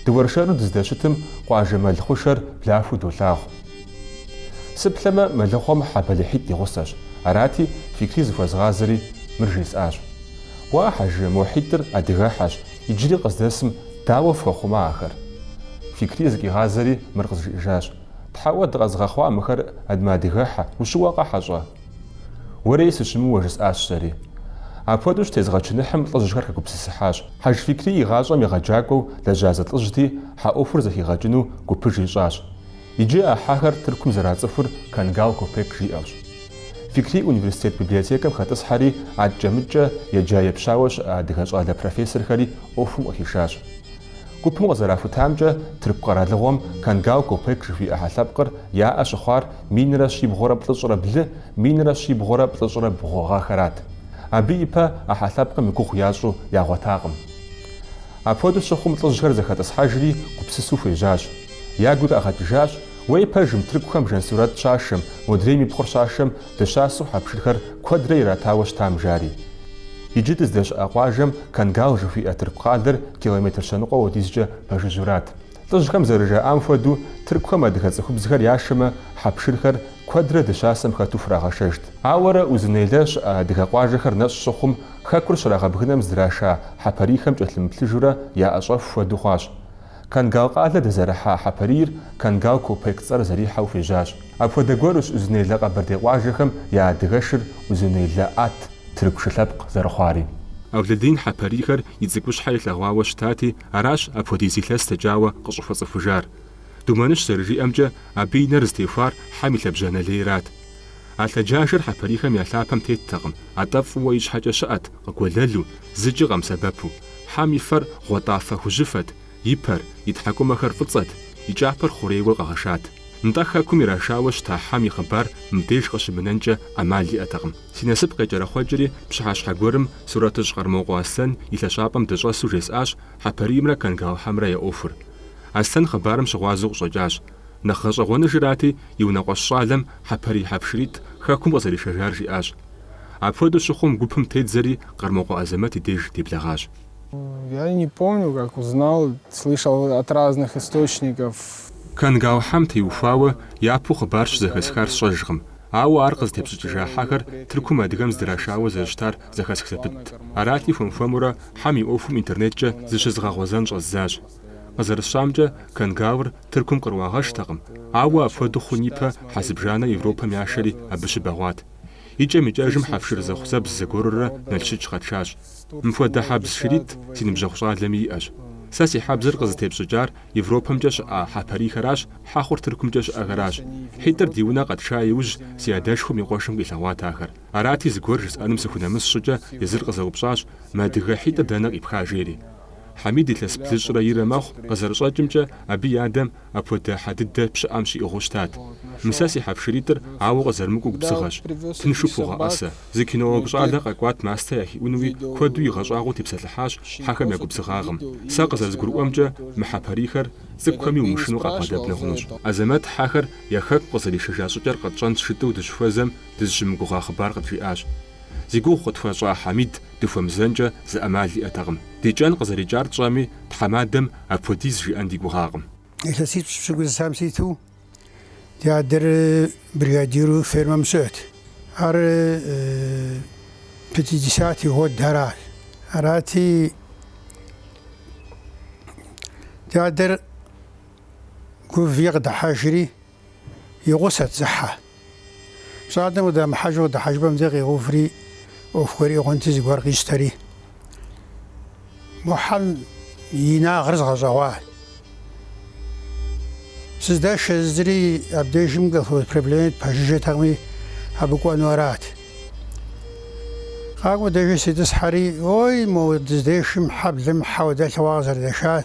Дыуэршэру дыздэщытым къуажэ мэл хъушэр блахыу долъагъу. Сыплъэмэ, мэлыхъуэм хьэ бэлыхьитӏ и гъусэщ, арати, Фикри зыхуэзгъазэри мыр жесӏащ. Уа, Хьэж, мо хьитӏыр адыгэхьэщ, иджыри къыздэсым дауэ фхуэхъума ахэр? Фикри зыкъигъазэри мыр къызжиӏэжащ. Тхьэуэ дыкъэзыгъэхъуа мыхэр ад мыадыгэхьэ, ущыуэкъэ, хьэщӏэ? Уэрей сыщымыуа, жысӏащ сэри. Апхуэдэу щытезгъэчыныхьым лӏыжьхэр хэгупсысыхьащ. Хьэж Фикрий и гъащӏэм егъэджакӏуэу лэжьа зы лӏыжьти, хьэ ӏуэхур зэхигъэкӏыну гупыж ищӏащ. Иджы а хьэхэр Тыркум зэрацӏыхур Кангал Копек жиӏэущ. Фикрий университет библиотекэм хэтӏысхьэри, адкӏэ-мыдкӏэ еджа-епщауэ щыӏэ адыгэ щӏалэ профессорхэри ӏуэхум къыхишащ. Гупым къызэрахутамкӏэ, тырку къэралыгъуэм Кангал Копек жыхуиӏэ хьэ лъэпкъыр яӏэ щыхъуар минрэ щибгъурэ плӏыщӏрэ блы, минрэ щибгъурэ плӏыщӏрэ бгъу гъэхэрат. Абы ипэ а хьэ лъэпкъым и гугъу ящӏу ягъуэтакъым. Апхуэдэу щыхъум лӏыжьхэр зэхэтӏысхьэжри гупсысу хуежьащ. Ягу къагъэкӏыжащ, Уей пэжым, тыркухэм Жансурэт щашэм, модрейм и пхъур щашэм Дыщасэу хьэпшырхэр куэдрэ иратауэ щытам жари. Иджы дыздэщыӏэ къуажэм Кангал жыхуиӏэ тырку къалэр километр щэныкъуэ хуэдизкӏэ пэжыжьурат. Лӏыжьхэм зэрыжаӏам хуэдэу, тыркухэм адыгэ цӏыхубзхэр яшэмэ, хьэпшырхэр куэдрэ дыщасэм хэту хурагъэшэжт. Ауэрэ Узунейлэ щыӏэ адыгэ къуажэхэр нэщӏ щыхъум, хэкур щрагъэбгынэм здраша хьэпарийхэм кӏэлъымыплъыжурэ яӏэщӏэху хуэдэу хъуащ. Кангал къалэ дэзэрыхьа хьэпарийр Кангал Копек цӏэр зэрихьэу хуежьащ. Апхуэдэ гуэрущ Узунейлэ къэбэрдей къуажэхэм я адыгэшыр Узунейлэ ат, тырку шы лъэпкъ, зэрыхъуари. Ӏэулэдин хьэпарийхэр и цӏыкӏущхьэ илъэгъуауэ щытати, аращ апхуэдиз илъэс дэкӏауэ къыщӏыхуэцӏыхужар. Думэныщ зэрыжиӏэмкӏэ, абы и нэр зытехуар хьэм и лъэбжьанэ лейрат. А лъэджажэр хьэпарийхэм я лъапэм теттэкъым, атӏэ фӏыуэ ищхьэкӏэ щыӏэт, къыгуэлэлу, зыкӏи къэмысэбэпу. Хьэм и фэр гъуэтӏафэ хужьыфэт, и пэр, и тхьэкӏумэхэр фӏыцӏэт, и кӏапэр хъурейуэ къэгъэшат. Нтӏэ хэкум ирашауэ щыта хьэм и хъыбар мыбдеж къыщымынэнкӏэ ӏэмал иӏэтэкъым. Си насып къекӏэрэхъуэкӏри, пщыхьэщхьэ гуэрым сурэтыщӏ Къэрмокъуэ Аслъэн и лъэщӏапӏэм дыщӏэсу жесӏащ хьэпариймрэ Кангал хьэмрэ я ӏуэхур. Аслъэн хъыбарым щыгъуазэу къыщӏэкӏащ. Нэхъ гъэщӏэгъуэныжырати, и унэкъуэщ щӏалэм хьэпарий хьэпшыритӏ хэкум къызэришэжар жиӏащ. Апхуэдэу щыхъум, гупым теддзэри, Къэрмокъуэ Азэмэт и деж деблэгъащ. Я не помню, как узнал, слышал от разных источников. Кангал хьэм теухуауэ япэу хъыбар щызэхэсхар сщӏэжкъым, ауэ ар къызытепщӏыкӏыжа хьэхэр Тыркум адыгэм здрашауэ зэрыщытар зэхэсх зэпытт. Арати, хуэм-хуэмурэ хьэм и ӏуэхум интернеткӏэ зыщызгъэгъуэзэн щӏэздзащ. Къызэрысщӏамкӏэ, Кангалыр Тыркум къыруагъэштэкъым, ауэ апхуэдэу хъун ипэ хьэ зыбжанэ Европэм яшэри абы щыбэгъуат. И кӏэм и кӏэжым хьэпшыр зэхъузэбз зыгуэрурэ Налшык къэтшащ. Мыпхуэдэ хьэбз шыритӏ си ныбжьэгъу щӏалэми иӏэщ. Сэ си хьэбзыр къызытепщӏыкӏар Европэмкӏэ щыӏа хьэпарийхэращ, хьэхъур Тыркумкӏэ щыӏэхэращ. Хьитӏыр ди унэ къэтша иужь, си адэшхуэм и къуэшым къилъэгъуат ахэр. Арати, зыгуэр жысӏэным сыхунэмыс щӏыкӏэ, езыр къызэупщӏащ, Мы адыгэ хьитӏыр дэнэ къипха? жери. Хьэмид илъэс блыщӏрэ ирэ мэхъу, къызэрыщӏэкӏымкӏэ, абы и адэм, Апхуэдэ хьэ дыдэ пщыӏэм щиӏыгъыу щытат. Мы сэ си хьэпшыритӏыр ауэ къызэрымыкӏуэу губзыгъэщ. Тыншу пхугъэӏэсэ. Зы кинологу щӏалэ къэкӏуат мастэ яхиӏуну икӏи, куэду игъэщӏагъуэу тепсэлъыхьащ хьэхэм я губзыгъагъым. Сэ къызэрызгурыӏуэмкӏэ, мы хьэпӏарийхэр цӏыкӏухэми умышынэу къабгъэдэбнэ хъунущ. Азэмэт хьэхэр я хэку къызэришэжа щӏыкӏэр къэтщӏэн щытыу дыщыхуэзэм, дызыщымыгугъа хъыбар къыджиӏащ. Зи гугъу къытхуащӏа Хьэмид дыхуэмызэнкӏэ зы ӏэмал иӏэтэкъым. Ди кӏэн къызэрикӏар тщӏэми, тхьэмадэм Апхуэдиз зыжиӏэн ди гугъакъым. Илъэситӏ пщыкӏузым ситу ди адэр бригадиру фермэм щыӏэт. Ар пятидесятэ гъуэдыращ. Арати, ди адэр гувауи къыдыхьэжри, и гъусэт зы хьэ. Щӏалэм къыдэмыхьэжу къыдыхьэжыпӏэм деж къигъэуври, ӏуэху гуэр игъуэнти зыгуэр къищтэри, Мухьэм и инагъыр згъэщӏэгъуа. Сыздэшэ зыри абдежым колхоз проблемэт пэжыжьэтэкъыми, абы кӏуэну арат. Къакӏуэ деи сытригъэтӏысхьэри, ой, мо дыздэшым хьэблэм хьэуэ дэлъыгъуа къызэрыдэшар.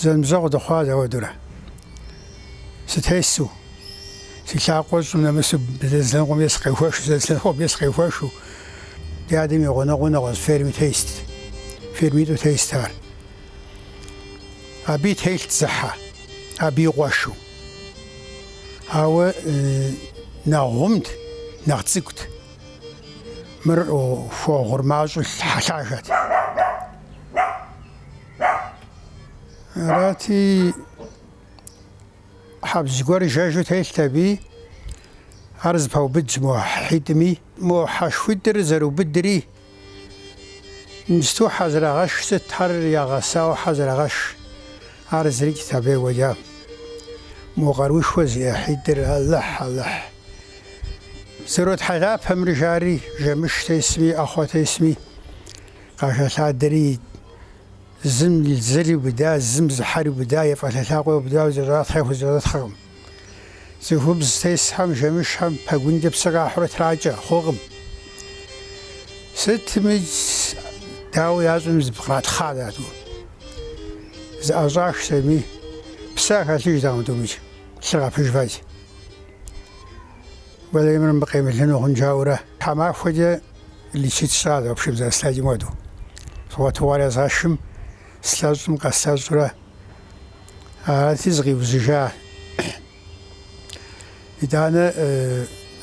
Зэныбжьэгъу дыхъуат зэуэ дурэ? Сытесу, си лъакъуэр щӏым нэмысу зэ зы лъэныкъуэм сыкъехуэхыу, зэ зы лъэныкъуэм сыкъехуэхыу. Ди адэм и гъунэгъуу нэгъуэщӏ ферми тетт, фермитӏу тетт ар. Аби телът зы хьэ, аби и къуэшу. Ауэ нэхъ гъумт, нэхъ цӏыкӏут. Мыр хуэгъур мащӏэу хьэлъагэт. Арати, хьэбз гуэр жэжу телът аби, ар зэпаубыдщ мо хьитӏми. Мо хьэшхуитӏыр зэрыубыдри, мыстэу хьэ зэрагъэшх сытхэр ягъэсауэ хьэ зэрагъэшх, ар зырикӏт абы екӏуэкӏа. Мо къаруушхуэ зиӏэ хьитӏыр, Алыхь, Алыхь. Зэротхьэлэпэмрэ, жари, жэмыш тесми, ӏэхъуэ тесми, Къахэлъадэри, зым зыр иубыда, зым зы хьэр иубыда, я фӏэлъэ лъакъуэ иубыдауэ зэратхъ яхузэпытхъкъым. Цӏыхубз тесхэм жэмышхэм пэгункӏэ псы къахьурэ тракӏэ хъукъым. Сытми, дауэ ящӏэми зыпкъратхъа дату. Зэӏэщӏах сытми, псэ яхэлъыжтэкъым тӏуми, лъыр къапыжу. Уэлэхьи, мыр къемылыну хъун жаӏэурэ. Тхьэмахуэкӏэ Лечит сщӏащ апщыгъуэм зэрыслъэкӏым хуэдэу. Згъуэтыхукӏэ езгъэшхым, слъэщӏым къэслъэщӏурэ арати зыкъиужьыжа. Итӏанэ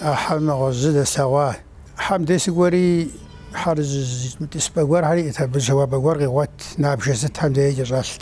а хьэр нэгъуэщӏ зы дэслъэгъуар. Хьэм дей сыкӏуэри, хьэр тӏысыпӏэ гуэрхэр иӏэт, абы жьауапӏэ гуэр къигъуэт, набжэ сытхэм дей кӏэщӏэлът.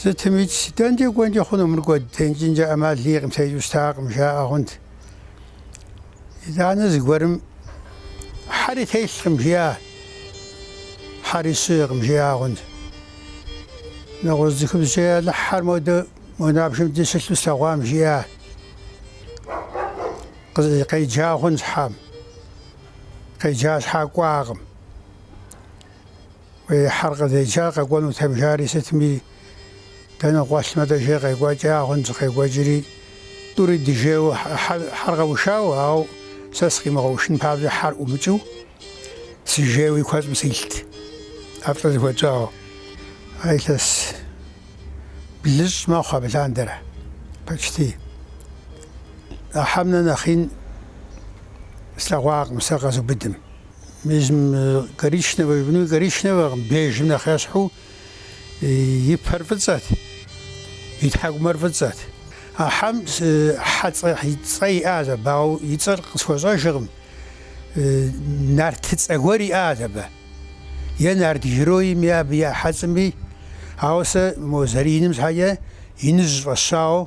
Сытымикӏ, дэнкӏэ кӏуэнкӏэ хъуну мыр кӏуэд текӏынкӏэ ӏэмал иӏэкъым, текӏыу щытакъым, жаӏэ хъунт. Итӏанэ зыгуэрым хьэри телъкъым жиӏа, хьэри щыӏэкъым жиӏа хъунт. Нэгъуэщӏ цӏыхубзкӏэ Алыхь, хьэр модэ мо набжэм деж щылъу слъэгъуам жиӏа. Къеджа хъунщ хьэм. Къеджа щхьа кӏуакъым. Уи хьэр къызеджам къэкӏуэнутэм жари сытми, дэнэ къуэлъмэ дэ жей къекӏуэкӏа хъунт, зыкъекӏуэкӏри, тӏури дыжейуэ хьэр къэушауэ, ауэ сэ сыкъимыгъэушын папщӏэ хьэр ӏумыкӏыу сыжейуэ и куэщӏым силът, ӏэплӏэ зыхуэтщӏауэ. Ар илъэс блыщӏ мэхъу абы лъандэрэ, почти. А хьэм нэ нэхъ ин слъэгъуакъым сэ къэзубыдым. Езым коричневэ жыпӏэну коричневэкъым, бежым нэхъ ещхьу и пэр фӏыцӏэт, и тхьэкӏумэр фӏыцӏэт. А хьэм Хьэцӏэ и цӏэ иӏащ абы, ауэ и цӏэр къысхуэщӏэжкъым. Нарт цӏэ гуэр иӏащ абы, е нарт героими, абы я хьэцӏэми. Ауэ сэ мо зэрииным щхьэкӏэ, иныжь фӏэсщауэ.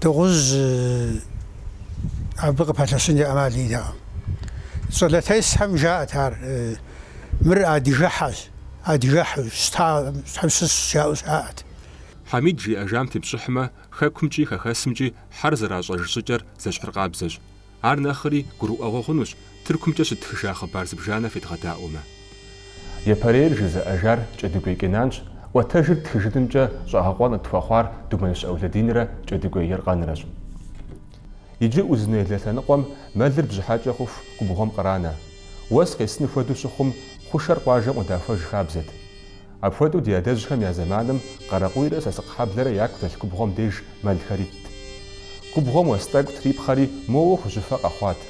Дыгъужь абы къыпэлъэщынкӏэ ӏэмал иӏэтэкъым. Щӏалэтесхэм жаӏэт ар, Мыр адыгэхьэщ, адыгэхьу щытахэм щыщщ жаӏэу щыӏэт. Хьэмид жиӏэжам тепщӏыхьмэ, хэкумкӏи хэхэсымкӏи хьэр зэращӏэж щӏыкӏэр зэщхьыркъабзэщ. Ар нэхъри гурыӏуэгъуэ хъунущ Тыркумкӏэ щыттхыжа хъыбар зыбжанэ федгъэдаӏуэмэ. Япэрейр жызыӏэжар Кӏэдыгуей Кенанщ, ӏуэтэжыр тхыжынымкӏэ щӏэгъэкъуэн къытхуэхъуар Думэныщ Ӏэулэдинрэ Кӏэдыгуей Еркъанрэщ. Иджы Узун-Яйлэ лъэныкъуэм мэлыр бжьыхьэкӏэ хъуху губгъуэм къранэ. Уэс къесыну хуэдэу щыхъум, хъушэр къуажэм къыдахуэж хабзэт. Апхуэдэу ди адэжьхэм я зэманым Къарэкъуийрэ Сасыкъхьэблэрэ яку дэлъ губгъуэм деж мэлхэр итт. Губгъуэм уэс тӏэкӏу трипхъэри, моуэ хужьыфэ къэхъуат.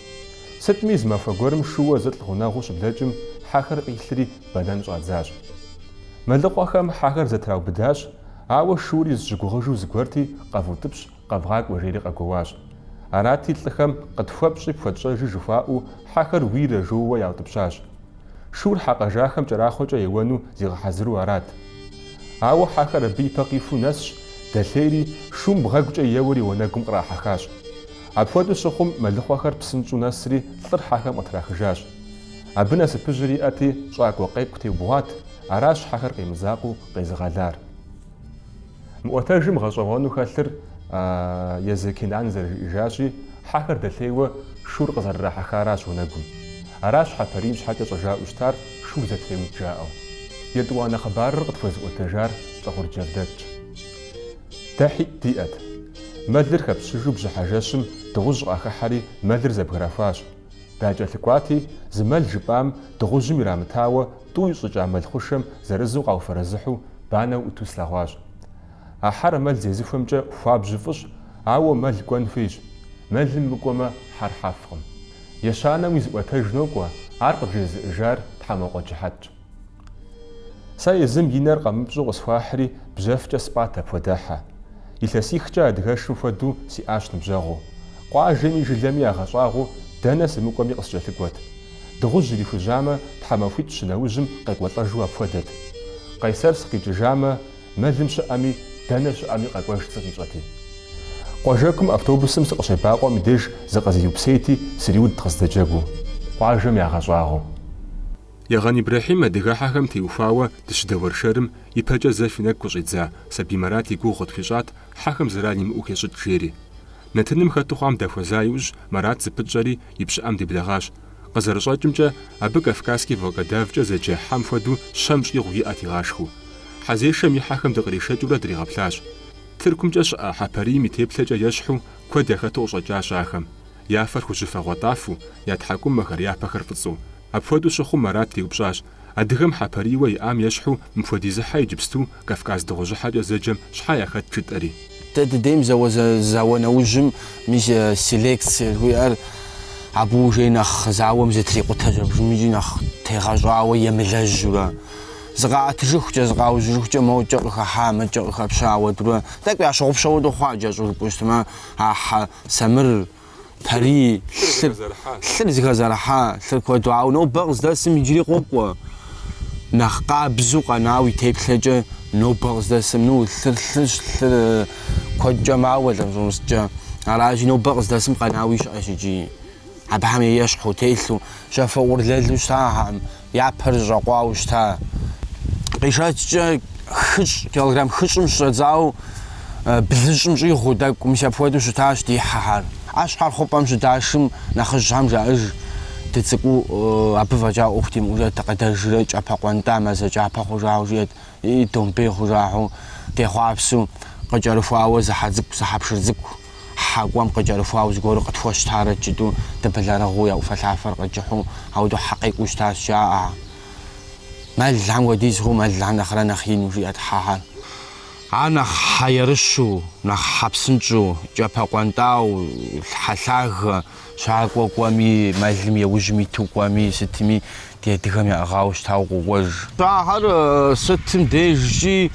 Сытми, зы махуэ гуэрым шууэ зылӏ гъунэгъуу щыблэкӏым, хьэхэр къилъри, бэнэн щӏадзащ. Мэлыхъуэхэм хьэхэр зэтраубыдащ, ауэ шуури зыщыгугъыжу зыгуэрти, къэвутӏыпщ, Къэвгъакӏуэ, жери къэгуэуащ. Арати, лӏыхэм, Къытхуэпщӏи, пхуэтщӏэжи, жыхуаӏэу, хьэхэр уийрэ, жоуэ яутӏыпщащ. Шур хьэ къэжахэм кӏэрахъуэкӏэ еуэну зигъэхьэзыру арат. Ауэ хьэхэр абы ипэ къихуу нэсщ, дэлъейри, шум бгъэгукӏэ еуэри уанэгум кърахьэхащ. Апхуэдэу щыхъум, мэлыхъуэхэр псынщӏу нэсри, лӏыр хьэхэм къытрахыжащ. Абы насыпыжьыр иӏэти, щӏакӏуэ къекӏу теубгъуат, аращ хьэхэр къемызакъыу къезыгъэлар. Мы ӏуэтэжым гъэщӏэгъуэну хэлъыр езы Кенан зэрыжиӏэжащи, хьэхэр дэлъейуэ шур къызэрырахьэхаращ уанэгум. Аращ хьэпарийм щхьэкӏэ щӏэжаӏэу щытар шур зэтреуд жаӏэу. Етӏуанэ хъыбарыр къытхуэзыӏуэтэжар Лӏыгъур Джавдэтщ. Дэ хьитӏ диӏэт. Мэлыр хэпщыжу бжьыхьэ жэщым дыгъужь къахыхьэри мэлыр зэбграхуащ. Дакӏэлъыкӏуати, зы мэл жыпӏам дыгъужьым ирамытауэ Тӏу ищӏыкӏа мэл хъушэм зырызу къауфэрэзыхьу банэу ӏуту слъэгъуащ. А хьэр мэл зезыхуэмкӏэ хуабжьу фӏыщ, ауэ мэл кӏуэн хуейщ. Мэлым мыкӏуэмэ, хьэр хьэфкъым. Ещанэм уи зыӏуэтэж нокӏуэ, ар къыджезыӏэжар Тхьэмокъуэ Джыхьэтщ. Сэ езым и нэр къэмыпщӏу къысхуахьри, бжьэфкӏэ спӏат апхуэдэ хьэ. Илъэсихкӏэ адыгэшым хуэдэу сиӏащ ныбжьэгъуу. Къуажэми жылэми ягъэщӏагъуу дэнэ сымыкӏуэми къыскӏэлъыкӏуэт. Дыгъужь ирихужьамэ, тхьэмахуитӏ щы нэужьым къекӏуэлӏэжу апхуэдэт. Къайсэр сыкъикӏыжамэ, мэлым щыӏэми, дэнэ щыӏэми къэкӏуэж сыкъищӏэти. Къуажэкум автобусым сыкъыщебакъуэм и деж зыкъызиупсейти, сриудт къыздэджэгуу, къуажэм ягъэщӏагъуэу. Егъэн Ибрэхьим адыгэхьэхэм теухуауэ дыщыдэуэршэрым ипэкӏэ зэ фи нэгу къыщӏидза Сабий Марат и гугъу къытхуищӏат хьэхэм зэран имыӏэу хещӏыкӏ жери. Нэтыным хэту хъуам дахуэза иужь, Марат зыпытщӏэри, И пщыӏэм деблэгъащ. Къызэрыщӏэкӏымкӏэ, абы Кавказский волкодавкӏэ зэджэ хьэм хуэдэу щэм щӏигъу иӏэт игъашхэу. Хьэзешэм и хьэхэм дыкъришэкӏыурэ дригъэплъащ. Тыркумкӏэ щыӏэ хьэпарийм и теплъэкӏэ ещхьу куэд яхэту къыщӏэкӏащ ахэм. Я фэр хужьыфэ гъуэтӏафэу, я тхьэкӏумэхэр, я пэхэр фӏыцӏэу. Апхуэдэу щыхъум, Марат деупщӏащ. Адыгэм хьэпарийуэ иӏам ещхьу мыпхуэдиз хьэ иджыпсту Кавказ дыгъужьыхьэкӏэ зэджэм щхьэ яхэт жытӏэри? Дэ дыдейм зауэ зауэ нэужьым мис селекцие жиӏэр абы уже нэхъ зауэм зытрикъутэ щӏэбжьымкӏи нэхъ тегъэщӏауэ емылэжьурэ, зыкъаӏэтыжыхукӏэ, зыкъаужьыжыхукӏэ мокӏэ къыхэхьа, мыкӏэ къыхэпща уэдурэ, тӏэкӏу ящыгъупщэу дыхъуа джащӏурыкӏуэ щытмэ, а хьэ самыр, Парий лъыр, лъыр зыхэзэрыхьа, лъыр куэду, ауэ нобэ къыздэсым иджыри къокӏуэ. Нэхъ къабзу къэнауи теплъэкӏэ нобэ къыздэсым, ну, лъыр лъырщ, лъыр куэдкӏэ мауэ лӏыр щӏумыщӏкӏэ. Аращи, нобэ къыздэсым къэнауи щыӏэщ иджыри. Абыхэм ещхьу, телъу, жьафэ ӏурылэлу щытахэкъым. Я пэр зэщӏэкъуауэ щыта къишэчкӏэ хыщӏ, килограмм хыщӏым щыщӏэдзауэ блыщӏым щӏигъуу тӏэкӏу, мис апхуэдэу щытащ ди хьэхэр. Ахэр хъупӏэм щыдашым нэхъыжьхэм жаӏэж, Дыцӏыкӏуу абы фӏэкӏа ӏуэху димыӏужэт, дыкъэдэжрэ кӏапэ къуэнтӏа мазэ кӏапэ хъужауэ жиӏэт, и домбей хъужахьэу, дехъуапсэу къыкӏэрыхуауэ зы хьэ цӏыкӏу, зы хьэпшыр цӏыкӏу. Хьэкӏуэм къыкӏэрыхуауэ зыгуэру къытхуэщтарэ жытӏэу дыбэлэрыгъыу я ӏуфэлъафэр къыкӏыхьу ауэдэу хьэ къекӏуу щытащ, жаӏэ, мэлхьэм хуэдиз хъу, мэлхьэм нэхърэ нэхъ ину, жиӏэрт хьэхэр. Ар нэхъ хьэ ерыщу, нэхъ хьэ псынщӏу, кӏэпэ къуэнтӏауэ, хьэ лъагэ, Щакӏуэ кӏуэми, мэлым еужьым иту кӏуэми, сытми ди адыгэм яӏыгъауэ щытауэ къокӏуэж. А хьэр сытым дежкӏи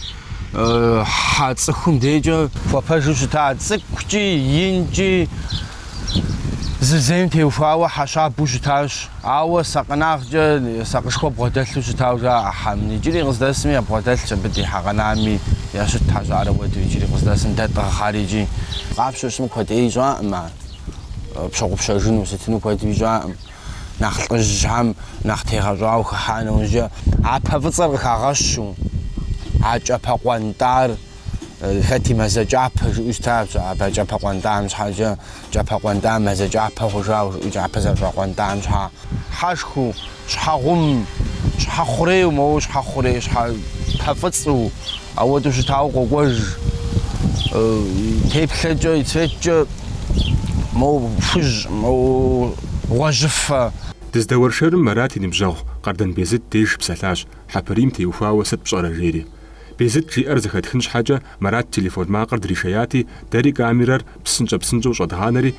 хьэ цӏыхум дежкӏэ хуэпэжу щыта цӏыкӏукӏи, инкӏи зызейм теухуауэ хьэ щабэу щытащ. Ауэ сакъынагъкӏэ сакъышхуэ бгъуэдэлъу щытауэ жаӏэ а хьэм. Иджыри къыздэсми ябгъуэдэлъщ, абы ди хьэ къэнами ящытт хьэ щӏарэ уэду иджыри къыздэсым дэ тӏыгъ хьэр икӏи. Къапщтэу щытмэ куэд ӏей щӏакъым ар. пщыгъупщэжыну сытыну куэдуи щӏакъым. Нэхъ лӏыжьхэм нэхъ тегъэщӏауэ хыхьа нэужькӏэ а пэ фӏыцӏэр къыхагъэщу, а кӏапэ къуэнтӏар хэти мазэ кӏапэ жыӏэу щытащ, абы кӏапэ къуэнтӏам щхьэкӏэ кӏапэ къуэнтӏар мазэ кӏапэ хъужауэ жыӏэу кӏапэ зэрыщӏэкъуэнтӏам щхьа. Хьэшхуэу Щхьэгъум, щхьэхъурейу, моуэ щхьэхъурей, щхьэ пэ фӏыцӏу, ауэдэу щытауэ къокӏуэж. Теплъэкӏэ, и цветкӏэ моуэ хужь, моуэ гъуэжьыфэ. Дыздэуэршэрым Марат и ныбжьэгъу Къардан Безыт деж псэлъащ, хьэпарийм теухуауэ сыт пщӏэрэ жери. Безыт жиӏэр зэхэтхын щхьэкӏэ Марат телефон макъыр дришеяти, дэри камерэр псынщӏэ-псынщӏэу щӏэдгъанэри,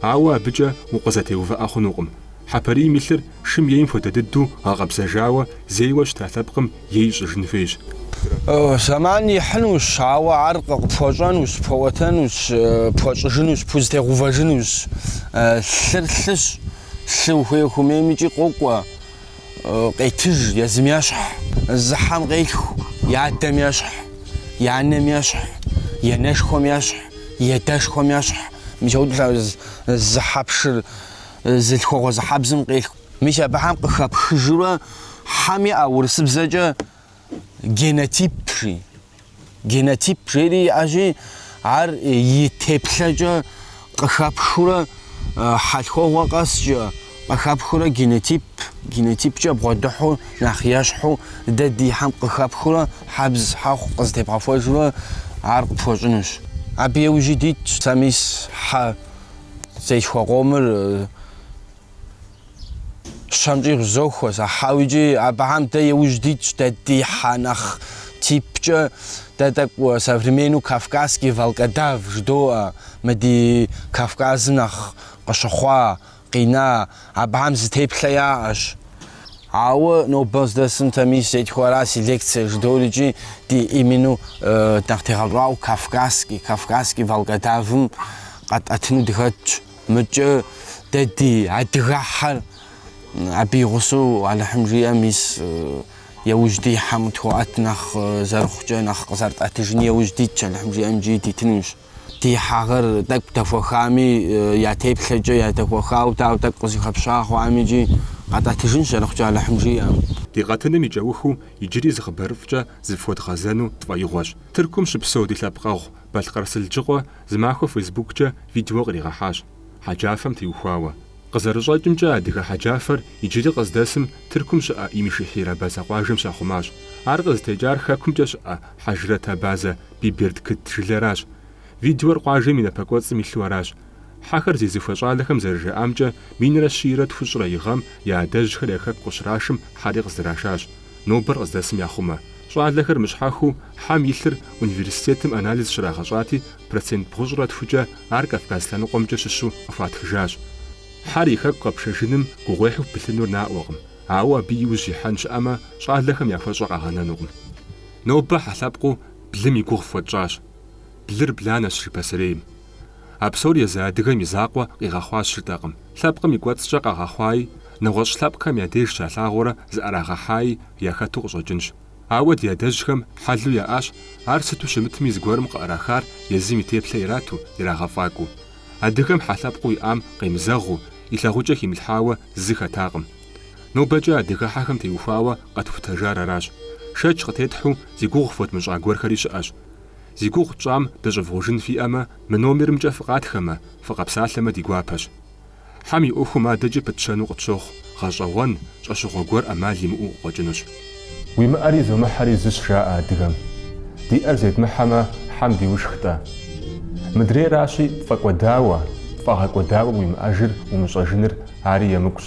Ауэ абыкӏэ укъызэтеувыӏэ хъунукъым. Хьэпарийм и лъыр шым ейм хуэдэ дыдэу гъэкъэбзэжауэ, зейуэ щыта лъэпкъым ей щӏыжын хуейщ. Зэман ихьынущ, ауэ ар къыпхуэщӏэнущ, пхуэӏуэтэнущ, пхуэщӏыжынущ, пхузэтегъэувэжынущ. Лъыр лъыщ, лъы ухуей-ухуэмеймикӏи къокӏуэ. къетыж езым ещхь, зы хьэм къелъху и адэм ещхь, и анэм ещхь, и анэшхуэм ещхь, и адэшхуэм ещхь. Мис ауэ зы хьэ пшыр зы лъхуэгъуэ зы хьэбзым къелъху. Мис абыхэм къыхэпхыжурэ хьэм иӏэ урысыбзэкӏэ генотип жи. генотип жери иӏэщи, ар и теплъэкӏэ къыхэпхыурэ хьэлъхуэгъуэ къэскӏэ, къыхэпхыурэ генотип, генотипкӏэ бгъуэдыхьу нэхъ ещхьу дэ ди хьэм къыхэпхыурэ хьэбз хьэхъу къызытебгъэхуэжурэ ар къыпхуэщӏынущ. Абы еужьи дитщ сэ мис хьэ зесхуэ къомыр. Щэмкӏи къызохуэ сэ хьэу икӏи абыхьэм дэ иужь дитщ, дэ ди хьэ нэхъ типкӏэ, дэ тӏэкӏу современнэу кавказский волкодав жыдоӏэ, мы ди Кавказым нэхъ къыщыхъуа, къина, абыхьэм зы теплъэ яӏэщ. Ауэ нобэ здэсым дэ мис зетхуэ ара селекцие жыдоӏэри икӏи дэ именно нэхъ тегъэщӏауэ кавказский, кавказский волкодавым къэтӏэтыну дыхэтщ. Мыкӏэ дэ ди адыгэ хьэр абы и гъусэу Алыхьым жиӏэм, мис яужь дихьэм къытхуэӏэт нэхъ зэрыхъукӏэ нэхъ къызэрытӏэтыжын яужь дитщ, Алыхьым жиӏэм икӏи дитынущ. Ди хьэхэр тӏэкӏу дэхуэхами, я теплъэкӏэ ядэхуэхауэ дауэ тӏэкӏу къызэхэпща хъуами икӏи къэтӏэтыжынщ зэрыхъукӏэ Алыхьым жиӏэм. Ди къэтыным и кӏэухыу иджыри зы хъыбарыфӏкӏэ зыфхуэдгъэзэну тфӏэигъуэщ. Тыркум щыпсэу ди лъэпкъэгъу Балъкъэр Сылджыкъуэ зы махуэ фейсбуккӏэ видео къригъэхьащ, хьэджафэм теухуауэ. Къызэрыщӏэкӏымкӏэ, адыгэ хьэджафэр иджыри къыздэсым Тыркум щыӏэ Имишехьир абазэ къуажэм щахъумащ. Ар къызытекӏар Хэкумкӏэ щыӏэ хьэжрэт абазэ Бибердкыт жылэращ. Видеор къуажэм и напэкӏуэцӏым илъу аращ. Хьэхэр зезыхуэ щӏалэхэм зэрыжаӏамкӏэ, минрэ щийрэ тхущӏрэ и гъэм я адэжьхэр я хэку къыщрашым хьэри къыздырашащ. Нобэр къыздэсым яхъумэ, щӏалэхэр мыщхьэхыу хьэм и лъыр университетым анализ щрагъэщӏати, процент бгъущӏрэ тхукӏэ ар Кавказ лъэныкъуэмкӏэ щыщу къыхуатхыжащ. Хьэр и хэку къэпшэжыным гугъуехьу пылъынур наӏуэкъым, ауэ абы и ужь ихьэн щыӏэмэ, щӏалэхэм яхуэщӏэ къагъэнэнукъым. Нобэ хьэ лъэпкъыу блым и гугъу фхуэтщӏащ. Блыр бланэщ, жи пасэрейм. А псор езы адыгэм и закъуэ къигъэхъуащ жытӏэкъым. Лъэпкъым и кӏуэцӏкӏэ къагъэхъуаи, нэгъуэщӏ лъэпкъхэм я деж щалъагъуурэ зыӏэрагъэхьаи яхэту къыщӏэкӏынщ. Ауэ ди адэжьхэм хьэлу яӏащ, ар сыту щымытми зыгуэрым къыӏэрахар езым и теплъэ ирату, ирагъэфӏакӏуэу. Адыгэм хьэ лъэпкъыу иӏам къемызэгъыу, и лъагъукӏэ химылъхьауэ зы хэтакъым. Нобэкӏэ адыгэ хьэхэм теухуауэ къэтхутэжар аращ. Шэч къытетхьу зи гугъу фхуэдмыщӏа гуэрхэри щыӏэщ. Зи гугъу тщӏам дыщӏывгъужын фиӏэмэ, мы номерымкӏэ фыкъатхэмэ, фыкъэпсалъэмэ ди гуапэщ. Хьэм и ӏуэхум адэкӏэ пытщэну къытщохъу, гъэщӏэгъуэн, щӏэщыгъуэ гуэр ӏэмал имыӏэу къыкъуэкӏынущ. Уимыӏэри зумыхьэри зыщ жаӏэ адыгэм. Диӏэр зедмыхьэмэ, хьэм диушх-тӏэ. Мыдрейращи, пфӏэкӏуэдауэ, пфӏагъэкӏуэдауэ уимыӏэжыр умыщӏэжыныр ари емыкӏущ.